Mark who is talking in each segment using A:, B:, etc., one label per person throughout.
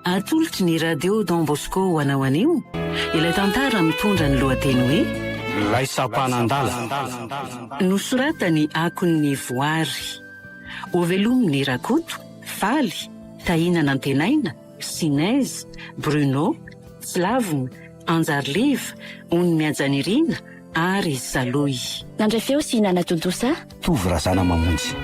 A: Atolotry ny Radio Don Bosco ho anao anio ilay tantara mitondra ny lohateny hoe Ilay Sampanan-dala. Nosoratan'i Akon'ny Voary. Ho velomin'i Rakoto, Faly, Tahiana Nantenaina, Sinez, Bruno, Slavn, Anjariliva, ony Miajanirina ary Saloy. Nandray feo sy
B: nanatontosa. Tovo Razana
C: Mamonjy.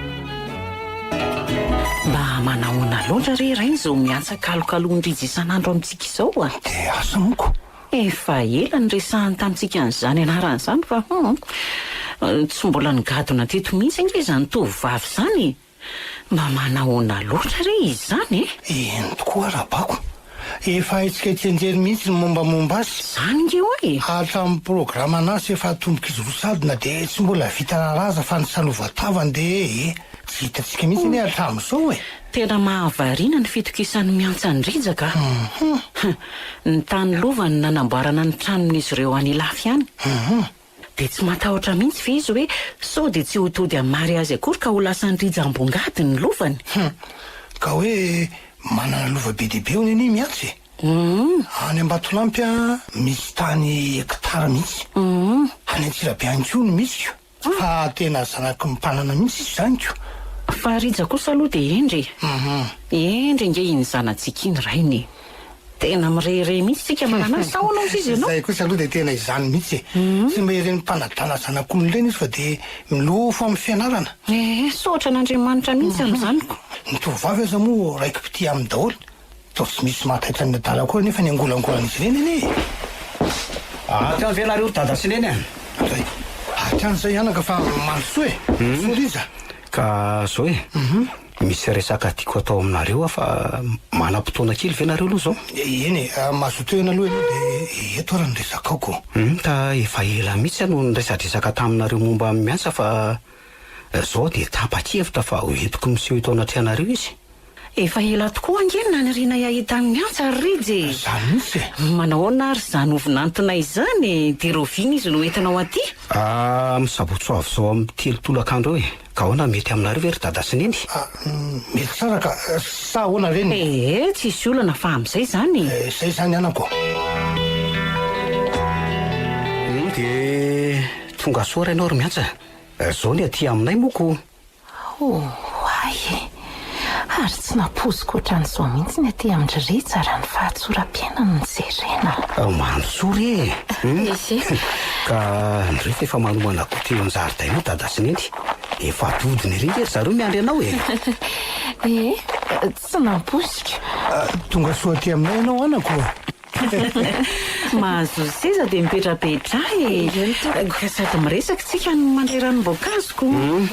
A: Mba manahoana loatra re rainy izao miantsa kalokalon-drijy isan'andro amintsika izao a! Dia asa amiko?
C: Efa ela
A: niresahany tamintsika an'izany anarana izany fa hum, tsy mbola nigadona teto mihitsy ange izany tovovavy izany e! Mba manahoana loatra re izy izany e? Eny tokoa Rabako.
D: Efa haintsika ety an-jery mihitsy ny mombamomba azy. Izany nge hoy e!
A: Hatramin'ny programan'asa
D: efa atombok'izy roa sady na dia tsy mbola vita raraza fa ny sanova-tavany dia ee. Tsy hitantsika mihitsy anie hatramin'izao e! Tena mahavariana
A: ny fitokisan'i Miantsan-dRijaka a! Humm! Humm! Ny tany lova no nanamboarana ny tranon'izy ireo any Ilafy any. Humm! Dia tsy matahotra mihitsy ve izy hoe sao dia tsy ho tody an'i Mary azy akory ka ho lasan'i Rija ambongady ny lovany? Hum. Ka
D: hoe manana lova be dia be hono anie Miantsy e! Hum. Any Ambatolampy aho misy tany hectare mihitsy. Hum. Any Antsirabe ihany koa no misy ko. Fa tena zanaky ny mpanana mihitsy izy izany ko. Fa Rija
A: kosa aloha dia hendry e! Hum. Hendry ange iny zanatsika iny rainy e! Tena mirehirehy mihitsy tsika manana azy sa ahoana ozy izy ianao? Zay kosa aloha dia tena izany
D: mihitsy e! Tsy mba ireny mpanadala zanak'olona ireny izy fa dia milofo amin'ny fianarana. Ee, soatra
A: an'Andriamanitra mihitsy amin'ny zaniko. Ny tovovavy aza
D: moa raiki-pitia aminy daholo, toa tsy misy mahataitra an'ny adala akory anefa ny angolangolan'izy ireny anie e!
C: Hatrany ve nareo ry dada sy neny an? Zay,
D: hatrany izay anaka fa mandrosoa e! Sorry iza. Ka zao
C: e! Misy resaka tiako atao aminareo aho fa manam-potoana kely ve nareo aloha zao? Eny e, mahazoa
D: tohina aloha ianao de eto ary ny resakaoko. Hum ka efa
C: ela mihitsy aho no niresadresaka taminareo momba ny miasa fa zao de tapa-kevitra fa ho entiko miseho eto anatrehanareo izy. Efa ela
A: tokoa ange no nanirinay hahita ny miantsa ry Rija e! Zany mihitsy e!
D: Manao ahoana ary izany ho
A: vinantonay izany e! De rahoviana izy no entinao aty? Ah, amin'ny sabotsy
C: ho avy izao amin'ny telo tolakandro eo e! Ka ahoana mety aminareo ve ry dada sy neny? Ah, mety tsara
D: ka, sa ahoana ve ny. Ee, tsisy olana fa
A: amin'izay izany e! Eh, izay izany anako.
D: Hum,
C: dia tongasoa rainao ry miantsa. Zao ny aty aminay moa ko. Oay e!
E: ary tsy nampoiziko ohatran'izao mihitsy ny aty amin-dry Rija raha ny fahatsoram-piainany no jerena. Mandrosoa re
C: e! Ese. Ka ndry fa efa manomana goûter eo an-jaridainao dada sy neny. Efa dodona ery nge ry zareo miandry anao e! Ee, tsy
E: nampoiziko. Tonga soa
D: aty aminay ianao anako. Mahazo
A: seza dia mipetrapetra e! Sady miresaka tsika no mandray ranom-boankazo ko!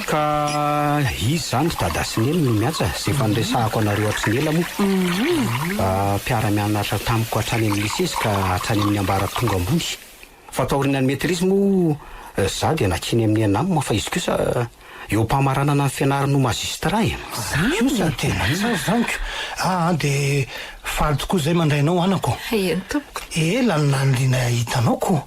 A: Ka
C: izy izany ry Dada sy Neny no miantsa, izay efa niresahako anareo hatry ny ela moa. Mpiara-mianatra tamiko hatrany amin'ny lycée ka hatrany amin'ny ambaratonga ambony. Fa taorian'ny maîtrise moa za dia nakiana amin'ny ENAM fa izy kosa eo am-pamaranana ny fianarany ho magistrat e! Zany! Kosa tena
D: tsara zany ko! Aa dia faly tokoa zay mandray anao anako! Eny tompoko!
E: Ela no naniriana
D: hahita anao ko!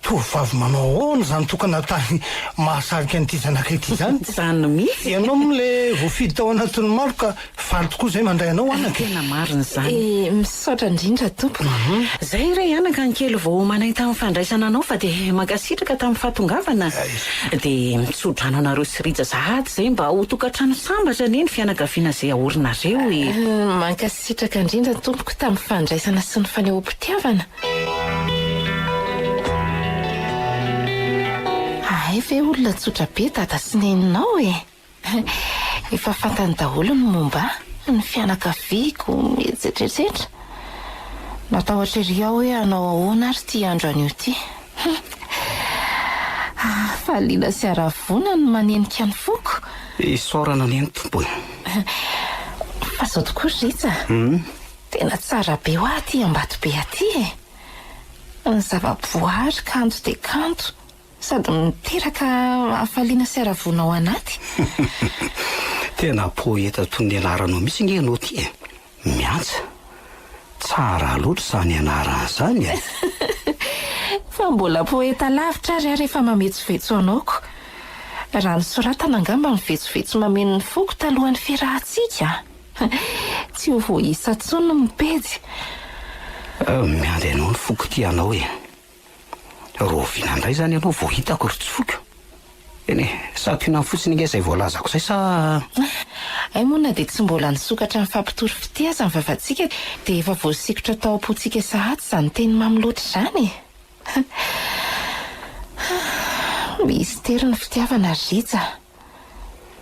D: Tovovavy manao ahoana zany tokana tany mahasarika an'ity zanakay ity zany? Zany mihitsy! Ianao
A: moa le
D: voafidy tao anatin'ny maro ka Faly tokoa izay mandray anao anaka e! Tena marina izany. Eh,
A: misaotra indrindra
E: tompoko. Zay re
A: anaka ny kely vao manay tamin'ny fandraisana anao fa dia mankasitraka tamin'ny fahatongavana. Dia mitsodrano anareo sy Rija sahady zay mba ho tokantrano sambatra anie ny fianakaviana zay aorinareo e! Mankasitraka
E: indrindra tompoko tamin'ny fandraisana sy ny fanehoam-pitiavana. Ahay ve olona tsotra be dada sy neninao e! Efa fantany daholo ny momba ahy ny fianakaviako, etsetretsetra. Matahotra ery aho hoe hanao ahoana ary ity andro anio ity. Hafaliana sy haravoana no manenika ny foko. Isaorana anie
C: ny Tompo e!
E: Fa izao tokoa ry Rija a! Tena tsara be ho ahy aty Ambatobe aty e! Ny zava-boaary kanto dia kanto, Sady miteraka hafaliana sy haravoana ao anaty.
C: Tena poeta toy ny anaranao mihitsy nge enao ty e! Miantsa! Tsara loatra izany anarana izany e!
E: Fa mbola poeta lavitra ary aho rehefa mametsovetso anaoko. Raha ny soratana angamba no vetsovetso mameno ny foko talohan'ny fiarahantsika. Tsy ho voaisa intsony ny pejy.
C: Miandry anao ny foko tia anao e! Rovina indray izany ianao vao hitako ry Tsoiko. Eny e, santionany fotsiny ange izay voalazako izay sa? Hay
E: moa na dia tsy mbola nisokatra ny fampitory fitia aza ny vavantsika dia efa voasikotra tao am-pontsika sahady izany teny mamy loatra izany e! Mistery ny fitiavana ry Rija a!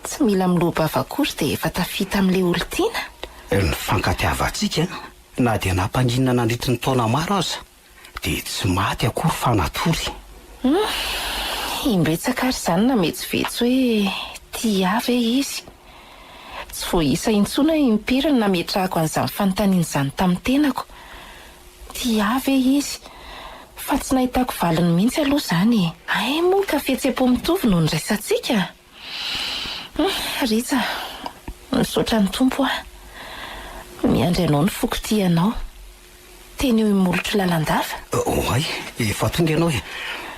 E: Tsy mila miloa-bava akory dia efa tafita amin'ilay olon-tiana? Ny
C: fankatiavantsika na dia nampaninona nandritry ny taona maro aza Dia tsy maty akory fa natory. Humm,
E: imbetsaka ary izany nametsovetso hoe tia ahy ve izy? Tsy voaisa intsony aho impiry no nametrahako an'izany fanontaniana izany tamin'ny tenako. Tia ahy ve izy? Fa tsy nahitako valiny mihitsy aloha izany e! Hay moa ka fihetseham-po mitovy no niraisantsika? Hum Rija misaotra ny Tompo ah miandry anao ny foko tia anao teny eo imolotry lalandava. Oay,
C: efa tonga ianao e!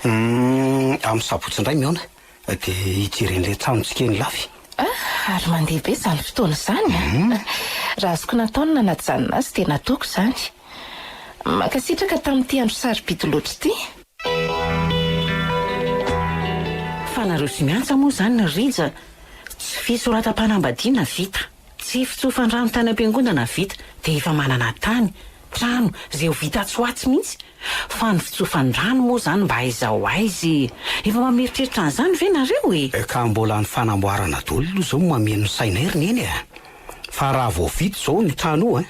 C: Hum amin'ny sabotsy indray mihaona de hijery an'ilay tranontsika eny Lafy. Ah ary mandeha
E: be izany fotoana izany ah! Raha azoko natao ny nanajanona azy dia nataoko izany. Mankasitraka tamin'ity andro sarobidy loatra ity.
A: Fa nareo sy miantsa moa zany Rija tsy fisoratam-panambadiana vita, tsy fitsofan-drano tany am-piangonana vita dia efa manana tany, trano, zay ho vita atsy ho atsy mihitsy fa ny fitsofan-drano moa zany mba aiza ho aiza e! Efa mameritreritra an'izany ve nareo e! Ka mbola ny
C: fanamboarana doly aloha zao mameno ny sainay ry neny a! Fa raha vao vita zao ny trano io a!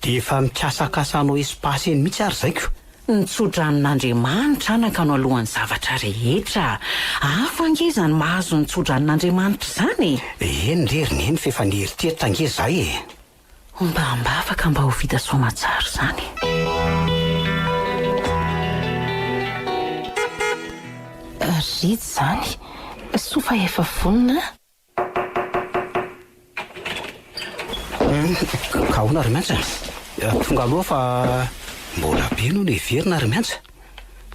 C: Dia efa mikasakasa hanao espace eny mihitsy ary zaiko! Ny
A: tsodranon'Andriamanitra anaka no alohan'ny zavatra rehetra. Hafa ange izany mahazo ny tsodranon'Andriamanitra izany e! Eny re ry Neny
C: f'efa nieritreritra ange izahay e! Homba
A: am-bava ka mba ho vita soamatsara izany
E: e! Rija izany soa fa efa vonona a!
C: Ahoana ry Miantsa? Tonga aloha fa mbola be no neverina ry Miantsa.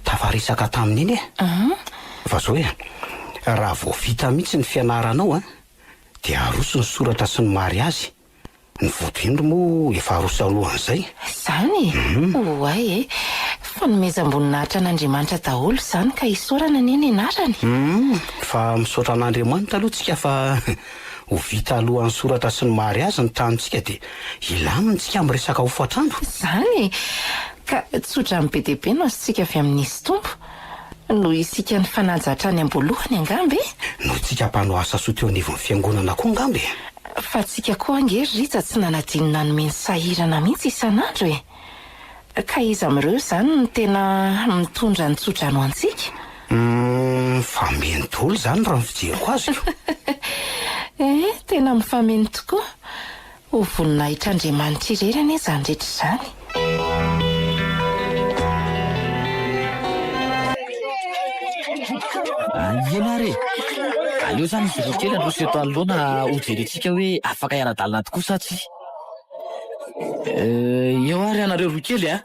C: Tafaresaka tamin'iny e. Fa zao e, raha vao vita mihitsy ny fianaranao dia aroso ny soratra sy ny mariazy. Ny voto indro moa efa aroso alohan'izay. Izany e!
E: Oay e! Fanomezam-boninahitra an'Andriamanitra daholo izany ka isaorana anie ny anarany. Humm, fa
C: misaotra an'Andriamanitra aloha tsika fa ho vita alohan'ny soratra sy ny mariazy ny tranontsika dia hilamina tsika amin'ny resaka hofantrano. Izany e!
E: Ka tsodrano be dia be no azontsika avy amin'izy Tompo. Noho isika nifanaja hatrany am-boalohany angamba e! Noho isika mpanao
C: asa soa teo anivon'ny fiangonana koa angamba e! Fa tsika
E: koa ange ry Rija tsy nanadino nanome ny sahirana mihitsy isan'andro e! Ka iza amin'ireo izany no tena mitondra ny tso-drano ho antsika? Humm,
C: mifameno daholo izany raha ny fijeriko azy ko! Ehe,
E: tena mifameno tokoa! Ho voninahitr'Andriamanitra irery anie izany rehetra izany.
F: Ahiana ary e! Aleo izany izy roa kely handroso eto anoloana hojerentsika hoe afaka hiara-dalana tokoa sa tsia. Eo ary ianareo roa kely a!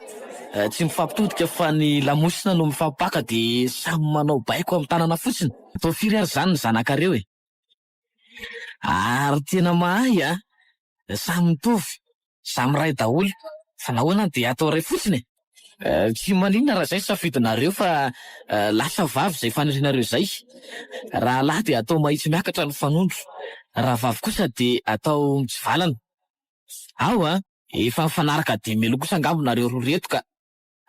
F: Tsy mifampitodika fa ny lamosina no mifampipaka dia samy manao baiko amin'ny tanana fotsiny. Atao firy ary izany ny zanakareo e! Ary tena mahay a! Samy mitovy, samy iray daholo fa nahoana dia atao iray fotsiny e? Tsy maninona raha izay ny safidinareo fa lasa vavy izay fanirianareo izay. Raha lahy dia atao mahitsy miakatra ny fanondro, raha vavy kosa dia atao mitsivalana. Ao a! Efa mifanaraka dimy melo kosa angamba nareo roa ireto ka!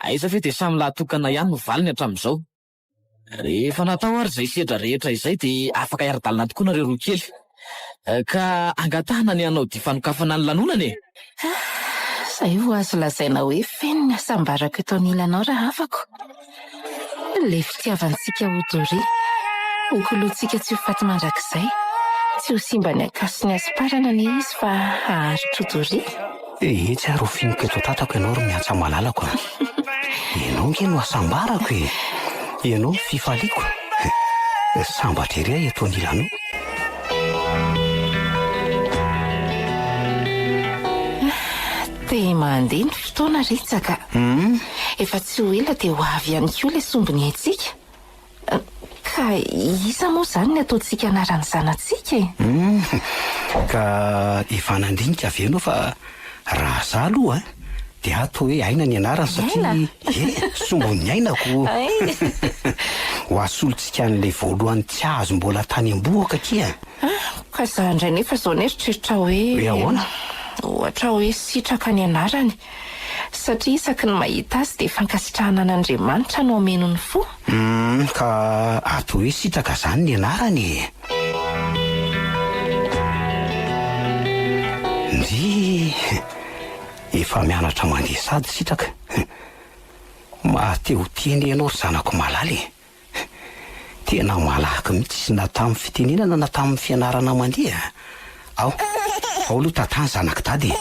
F: Aiza ve dia samy lahy tokana ihany no valiny hatramin'izao. Rehefa natao ary izay sedra rehetra izay dia afaka hiara-dalana tokoa nareo roa kely. Ka angatahana ny hanao dia fanokafana ny lanonana e!
E: Izay ho azo lazaina hoe feno ny hasambarako eto anilanao rahavako. Ilay fitiavantsika ho doria, ho koloantsika tsy ho faty mandrakizay. Tsy ho simba ny ankaso sy ny hasomparana anie izy fa haharitra ho doria. Ehitsy ary ho
C: finiko eto an-tatako ianao ry miantsa malalako a! Ianao ange no hasambarako e! Ianao no fifaliako! Sambatra ery aho eto anilanao!
E: Te mandeha ny fotoana Ritsaka a! Efa tsy ho ela dia ho avy ihany koa ilay sombiny haintsika. Ka iza moa izany ny ataontsika anaran'ny zanatsika e?
C: Humm! Ka efa nandinika ve
E: ianao fa
C: raha za aloha an, dia ahy toa hoe Aina ny anarany satria ie, sombon'ny ainako! Ho asolontsika an'ilay voalohany tsy azo mbola tany am-boako akia an! Ka za
E: indray nefa izao ny eritreritrao hoe. Hoe ahoana?
C: Ohatra hoe
E: Sitraka ny anarany Satria isaky ny mahita azy dia fankasitrahana an'Andriamanitra no hameno ny fo? Humm ka
C: ato hoe sitaka zany ny anarany e! Ndrii! Efa mianatra mandeha sady sitraka. Mahateho tena ianao ry zanako malala e! Tena malaky mihitsy na tamin'ny fitenenana na tamin'ny fianarana mandeha a! Ao, ao aloha Tata zanak'i Dada e!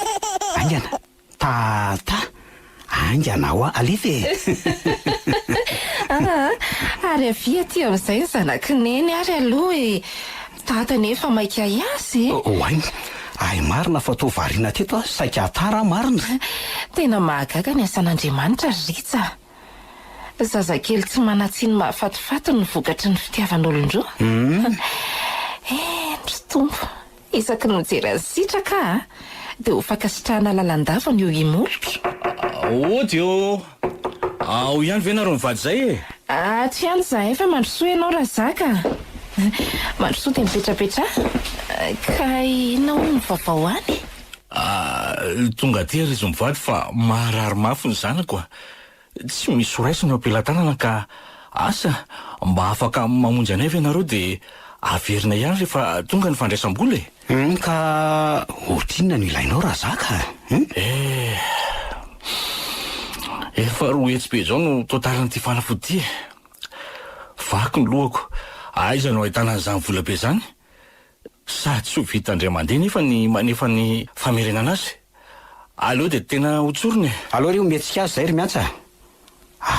C: Aingana! Tata! Aingana ho'a, alefa e! Aa!
E: Ary avia aty amin'izay ny zanak'i Neny ary aloha e! Dada anie efa maika hiasa e! Oay!
C: Hay marina fa toa variana teto aho, saika tara marina! Tena
E: mahagaga ny asan'Andriamanitra ry Rija a! Zazakely tsy manan-tsiny mahafatifaty no vokatry ny fitiavan'olon-droa. Eny ry Tompo, isaky ny mijery an'i Sitraka aho dia ho fankasitrahana lalandavany io imolotro. Ody
G: ô! Ao ihany ve nareo mivady izay e? Ato ihany
E: izahay fa mandrosoa ianao Razaka a! Mandrosoa dia mipetrapetraha. Ka inona hono ny vaovao any?
G: Tonga aty ary izy mivady fa maharary mafy ny zanako a! Tsy misy ho raisina eo am-pelatanana ka asa mba afaka mamonjy anay ve ianareo dia averina ihany rehefa tonga ny fandraisam-bola e! Hum ka
C: ohatr inona no ilainao raha za ka hum? Eh!
G: Efa roa hetsy be izao no totalin'ity fanafody ity e! Vaky ny lohako, aiza no ahitana an'izany vola be izany? Sady tsy ho vita indray mandeha nefa ny manefa ny famerenana azy. Aleo dia tena ho tsorina e! Aleo re ometsika azy
C: izay ry Miantsa a!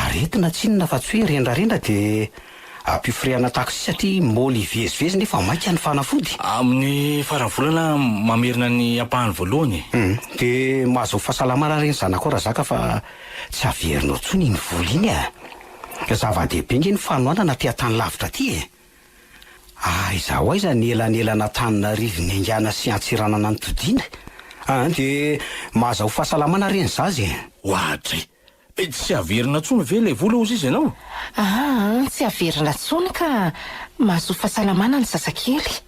C: Aretina tsinona fa tsy hoe rendrarendra dia ampio firehana taxi satria môly hivezivezy nefa maika ny fanafody. Amin'ny faran'ny
G: volana aho mamerina ny ampahany voalohany e! Humm. Dia
C: mahazoa fahasalamana re ny zanakao Razaka fa tsy averinao intsony iny vola iny a! Zava-dehibe ange ny fanohanana aty an-tany lavitra aty e! Aiza ho aiza ny elanelan'Antananarivo niaingàna sy Antsiranana nitodiana? An! dia mahaza ho fahasalamana re ny zaza e! Oadry!
G: Tsy averina tsony ve ilay vola ozy izy ianao? An! tsy
E: averina tsony ka! Mahazoa fahasalamana ny zazakely.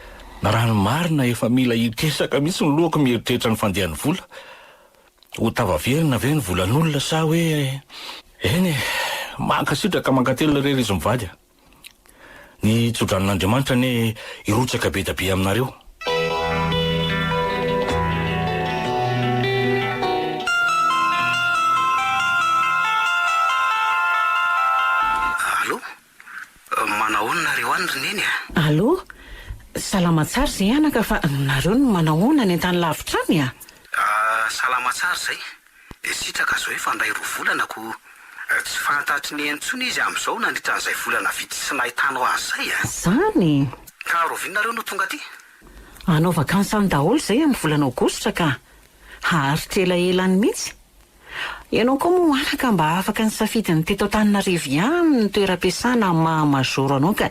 E: Raha ny
G: marina efa mila hitesaka mihitsy ny lohako mieritreritra ny fandehan'ny vola. Ho tafaverina ve ny volan'olona sa hoe. Eny e! Mankasitraka mankatelina re ry izy mivady a! Ny tsodranon'Andriamanitra anie hirotsaka be da be aminareo.
C: Allo,
A: salama tsara izay anaka fa nareo no manahoana any an-tany lavitra any a?
C: dia sitraka zao efa ndray roa volana ko tsy fantatry ny intsony izy amzao nandritra an'izay volana vitsy tsy nahitanao azy zay eh! Zany e!
A: Ka Rovina
C: nareo no tonga aty? Hanao vakansy
A: any daholo zay amin'ny volana aogositra ka! Haharitra elaela any mihitsy! Ianao koa moa anaka mba afaka nisafidy ny teto Antananarivo ihany ny toeram-piasana maha majoro anao ka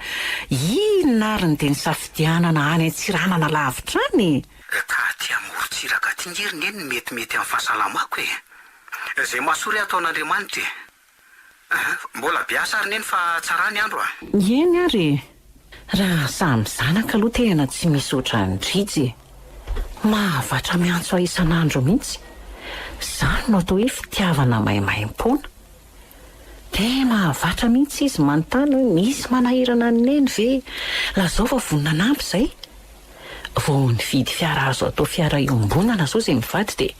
A: inona ary no dia nisafidianana any Antsiranana lavitra any e! Ka aty
C: amorontsiraka aty nge ry neny metimety amin'ny fahasalamako e! Izay mahasoa re ataon'Andriamanitra e! Aha, mbola be asa ry neny fa tsara ny andro a! Eny ary e!
A: Raha samy zanaka aloha tena tsy misy ohatran'i Drijy e! Mahavatra miantso ahy isan'andro mihitsy! Izany no atao hoe fitiavana maimaimpoana! Dia mahavatra mihitsy izy manontany hoe misy manahirana an'i Neny ve? Lazao fa vonona hanampy izay. Vao nividy fiara azo atao fiara iombonana izao izay mivady dia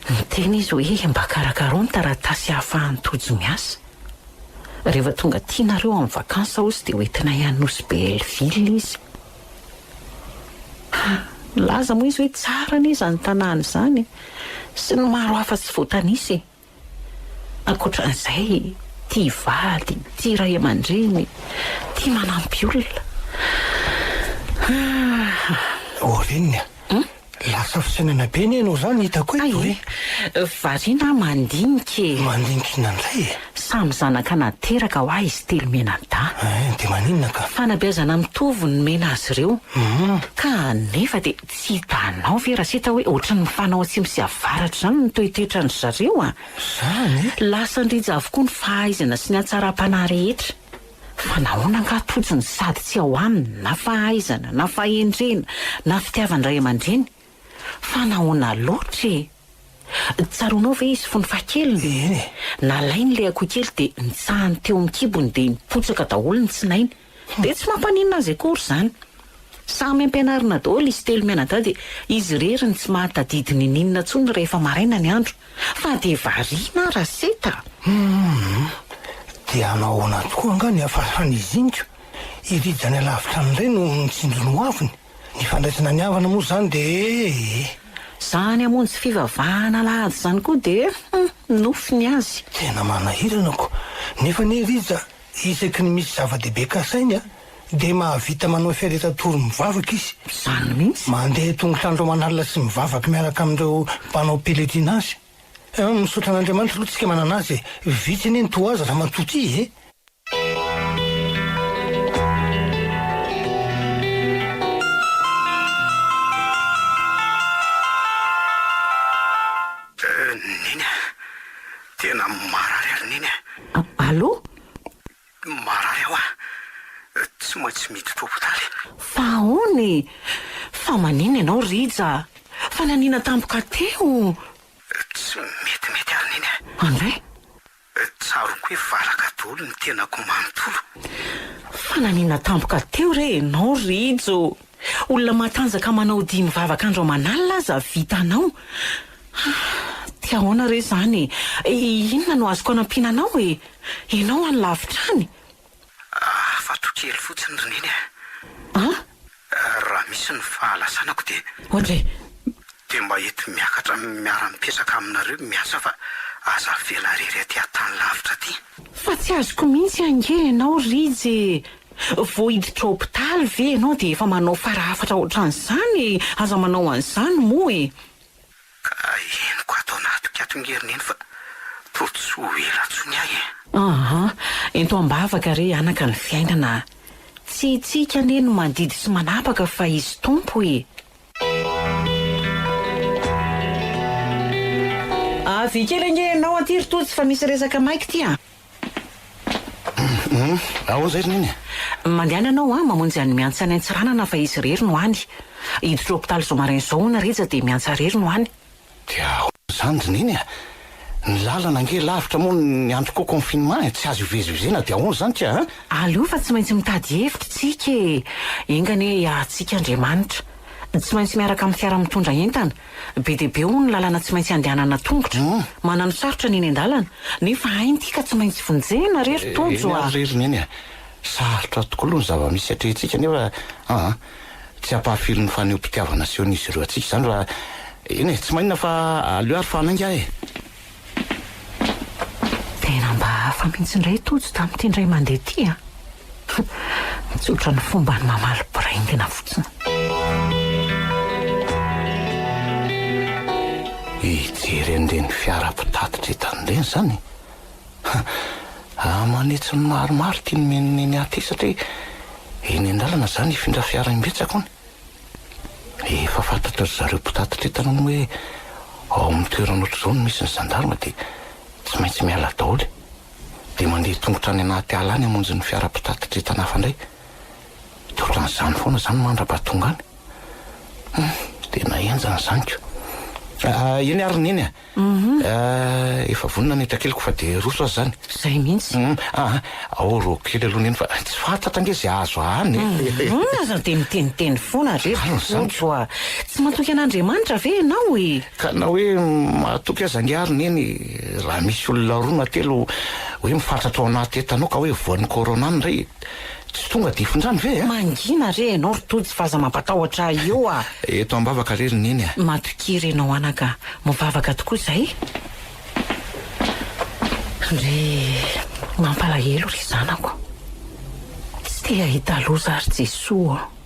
A: niteny izy hoe mba karakarao ny taratasy ahafahan'i Tojo miasa. Rehefa tonga aty nareo amin'ny vacances aozy dia hoentinay any Nosy Belleville izy. Ha, nilaza moa izy hoe tsara anie izany tanàna izany e! Sy ny maro hafa tsy voatanisa e! Ankoatran'izay, tia vady, tia ray aman-dreny, tia manampy olona. Ah! Oh Reniny a!
D: Lasa fisainana be anie ianao izany hitako eto e! Hay e! Variana
A: aho mandinika e! Mandinika inona indray
D: e? Samy zanaka
A: nateraka ho ahy izy telo mianadahy. Eh, dia maninona
D: ka? Fanabeazana mitovy
A: no nomena azy ireo. Ka nefa dia. Tsy hitanao ve Rasita hoe ohatran'ny mifanao atsimo sy avaratra izany ny toetoetran dry zareo a! Izany e! Lasa
D: an-drija
A: avokoa ny fahaizana sy ny hatsaram-panahy rehetra. Fa nahoana angaha totsiny sady tsy ao aminy na fahaizana na fahendrena na fitiavan-dray aman-dreny? Fa nahoana loatra e! Tsaroanao ve izy fony fahakeliny? Eny e! Nalainy ilay akohokely dia nitsahany teo amin'ny kibony dia nipotsaka daholo ny tsinainy. Dia tsy mampaninona azy akory izany. Samy ampianarina daholo izy telo mianadahy dia izy irery no tsy mahatadidy ninininona intsony rehefa maraina ny andro. Fa dia variana ary aseta. Humm.
D: Dia hanao ahoana tokoa angaha ny hafahan'izy iniko? I Rija any alavitra any indray no nitsinjo ny hoaviny? Ny fandraisana ny havana moa izany dia ee. Izany
A: hamonjy fivavahana alahady izany koa dia humm nofy ny azy. Tena manahirana
D: ko. Nefa anie Rija Isaky ny misy zava-dehibe kasainy dia mahavita manao fiaretan-tory mivavaka izy. Izany mihitsy.
A: Mandeha tongotra andro
D: aman'alina sy mivavaka miaraka amin'ireo mpanao pèlerinage. Misaotra an'Andriamanitra aloha tsika manana azy e! Vitsy anie ny toa azy ramatoa ty e!
C: Neny a! Tena marary ary neny eh. Allo? Marary aho ah. Tsy maintsy miditra hopitaly. Fa ahoana
A: e? Fa manina ianao Rija? Fa nanina tampoka teo? Tsy
C: metimety ary neny eh. Andray? Tsaroako hoe valaka daholo ny tenako manontolo. Fa
A: nanina tampoka teo re ianao Rijo? Olona matanjaka manao dihy mivavaka andro aman'alina aza vita anao ha dia ahoana re izany e? Inona no azoko anampiana anao e? Ianao any lavitra any? Hafatro
C: kely fotsiny ry Neny a! An? Raha misy ny fahalasanako dia. Hoatra e!
A: Dia mba
C: eto miakatra miara-mipetraka aminareo miasa fa aza avela irery aty an-tany lavitra aty. Fa tsy azoko
A: mihitsy ange ianao Rija e! Vao hiditra hopitaly ve ianao dia efa manao fara hafatra ohatran'izany e! Aza manao an'izany moa e! Ka
C: henoko ato anatikato nge ry neny fa toa tsy ho ela intsony ahy e! Aha!
A: Ento am-bavaka re anaka ny fiainana a! Tsy isika anie no mandidy sy manapaka fa Izy Tompo e! Avy kely ange ianao aty ry Tojo fa misy resaka maika ity a!
D: Aoa izay ry Neny e! Mandehana ianao
A: an, mamonjy an'i Miantsa any Antsiranana fa izy irery no any. Hiditra hopitaly zoma rain izao hono Rija dia Miantsa irery no any. Dia ahoana
D: izany ry Neny a! Ny lalana ange lavitra moa ny andro koa confinement e! Tsy azo ivezivezena dia ahoana izany ka a! Aleo fa tsy maintsy
A: mitady hevitra isika e! Enga anie hiahatsika Andriamanitra. Tsy maintsy miaraka amin'ny fiara mitondra entana Be dia be hono ny lalana tsy maintsy andehanana an-tongotra. Manano sarotra ny eny an-dalana, nefa hainy ity ka tsy maintsy vonjena re ry Tojo a! Eny ary ry Neny a!
D: Sarotra tokoa aloha ny zava-misy atrehintsika nefa an! tsy hampahafirin'ny fanehoam-pitiavana asehon'izy ireo antsika izany raha, eny e! tsy mainona fa aleo ary fa hanainga e!
A: Tena mba hafa mihitsy indray Tojo tamin'ity indray mandeha ity a! Tsotra ny fombany mamaly biraingina fotsiny.
D: Hijery an'ireny fiara mpitatitra entana ireny izany e! Raha manitsy ny marimarika iny miha miha miha miha antesaka hoe eny an-dalana izany hifindra fiara imbetsaka hono. Efa fantatra ry zareo mpitatitra entana moa hoe ao amin'ny toerana ohatr'izao no misy ny zandarma dia tsy maintsy miala daholo. Dia mandeha tongotra any anaty ala any hamonjy ny fiara mpitatitra entana hafa indray. Dia ohatran'izany foana izany mandrapa tonga any. Humm, tena henjana izany ko. Eny ary Neny a! Efa vonona ny entakeliko fa dia hiroso aza izany. Izay mihitsy.
A: Aa, ao
D: rô kely aloha neny fa tsy fantatra ange izay azo ahany e! Humm, aza dia
A: miteniteny foana re Tojo a! Tsy matoky an'Andriamanitra ve ianao e? Ka na hoe
D: mahatoky aza ange ary neny raha misy olona roa na telo hoe mifantratra ao anaty entana ao ka hoe voan'ny corona ny iray e! Tsy tonga dia fondrany ve a? Mangina re ianao ry
A: Tojo fa aza mampatahotra ahy eo a! Eto am-bavaka
D: re ry Neny a! Matokia re ianao
A: anaka a! Mivavaka tokoa izay! Ry mampalahelo ry zanako! Tsy te hahita loza ry Jesoa ô!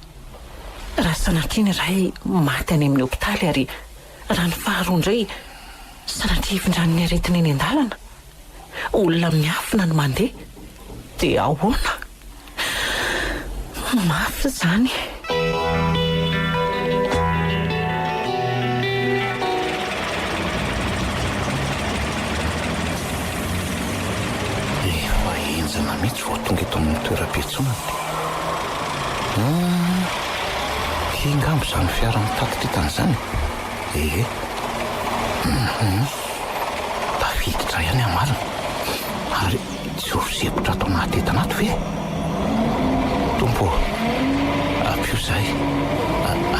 A: Raha sanatria ny iray maty any amin'ny hopitaly ary raha ny faharoa indray sanatria hifindran'ny aretina eny an-dalana? Olona miafina no mandeha dia ahoana? Mafy izany e!
D: Efa henjana mihitsy vao tonga eto amin'ny toeram-piantsonana. Ty angamba izany fiara mitaky ty tany izany e! Ehe. Tafiditra ihany ny marina ary tsy ho sempotra ato anaty entana ato ve? Tompo ô, ampio izahay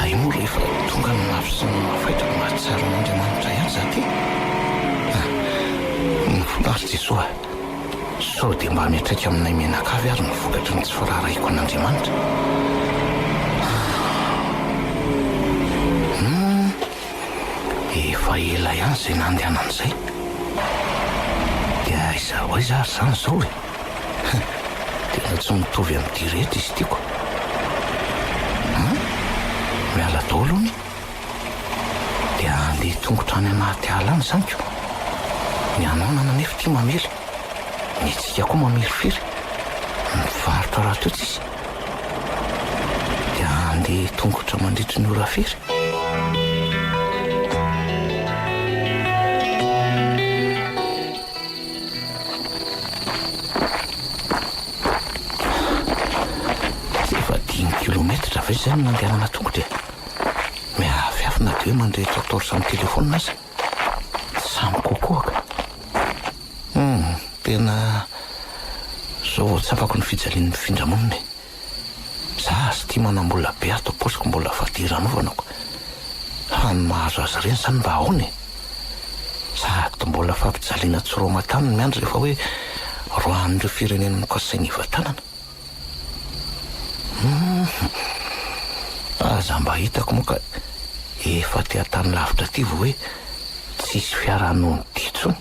D: ahy moa rehefa tonga ny mafy sy ny mafaitra no mahatsiaro an'Andriamanitra ihany izaho ty. Mafinaritra Jesoa a! Sao dia mba miatraika aminay mianakavy ary ny vokatry ny tsy firaharahiako an'Andriamanitra? Humm. Efa ela ihany izay nandehanan'izay. Dia aiza ho aiza ary izany izao e? Tena tsy mitovy amin'ity rehetra izy ity koa. An? Miala daholo hono. Dia handeha tongotra any anaty ala any izany ko. Ny ananana anefa ity mamely. Ny antsika koa mamirifiry. Mivarotra rahateo tsisy. dia handeha tongotra mandritry ny ora firy? Efa dimy kilometatra ve izay no nandehanana tongotra e? Miafiafy na dia hoe mandrehitra torche amin'ny telefaonina aza. Samy kokoa ka. Humm, tena zao vao tsapako ny fijalian'ny mpifindra monina e! Za aza tia manam-bola be ato am-paosiko mbola fadiranovako, fa ny mahazo azy ireny zany mba ahoana e? Sady mbola fampijaliana tsy roa aman-tany ny miandry rehefa hoe roahan'ireo firenena nokasaina hivatanana. Aza mba hitako moa ka efa aty an-tany lavitra aty vao hoe tsisy fiara hanono dia intsony.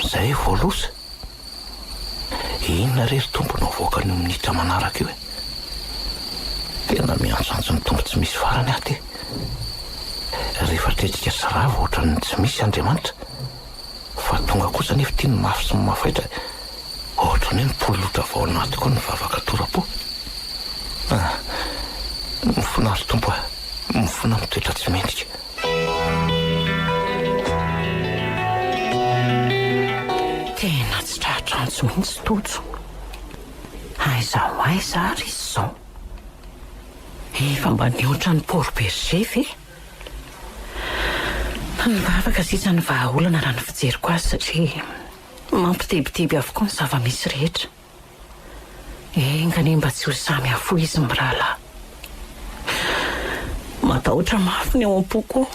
D: Izay vao loza. Inona re ry Tompo no havoakan'io minitra manaraka io e? Tena miantsoantso ny Tompo tsy misy farany aho ity. Rehefa tretrika sy rava ohatran'ny tsy misy Andriamanitra. fa tonga kosa nefa ity ny mafy sy ny mafaitra ohatran'ny hoe mipolotra avy ao anatiko ao ny vavaka tora-po. Ah, mifona ry Tompo ah, mifona mitoetra tsy mendrika.
A: Tena tsy tratrantso mihitsy Tojo. Aiza ho aiza ary izy izao? Efa mba nihoatra ny Port Bergé ve? Ny vavaka sisa no vahaolana raha ny fijeriko azy satria mampitebiteby avokoa ny zava-misy rehetra. Enga anie mba tsy ho sahy mihafohy izy mirahalahy. Matahotra mafy ny ao am-poko ao.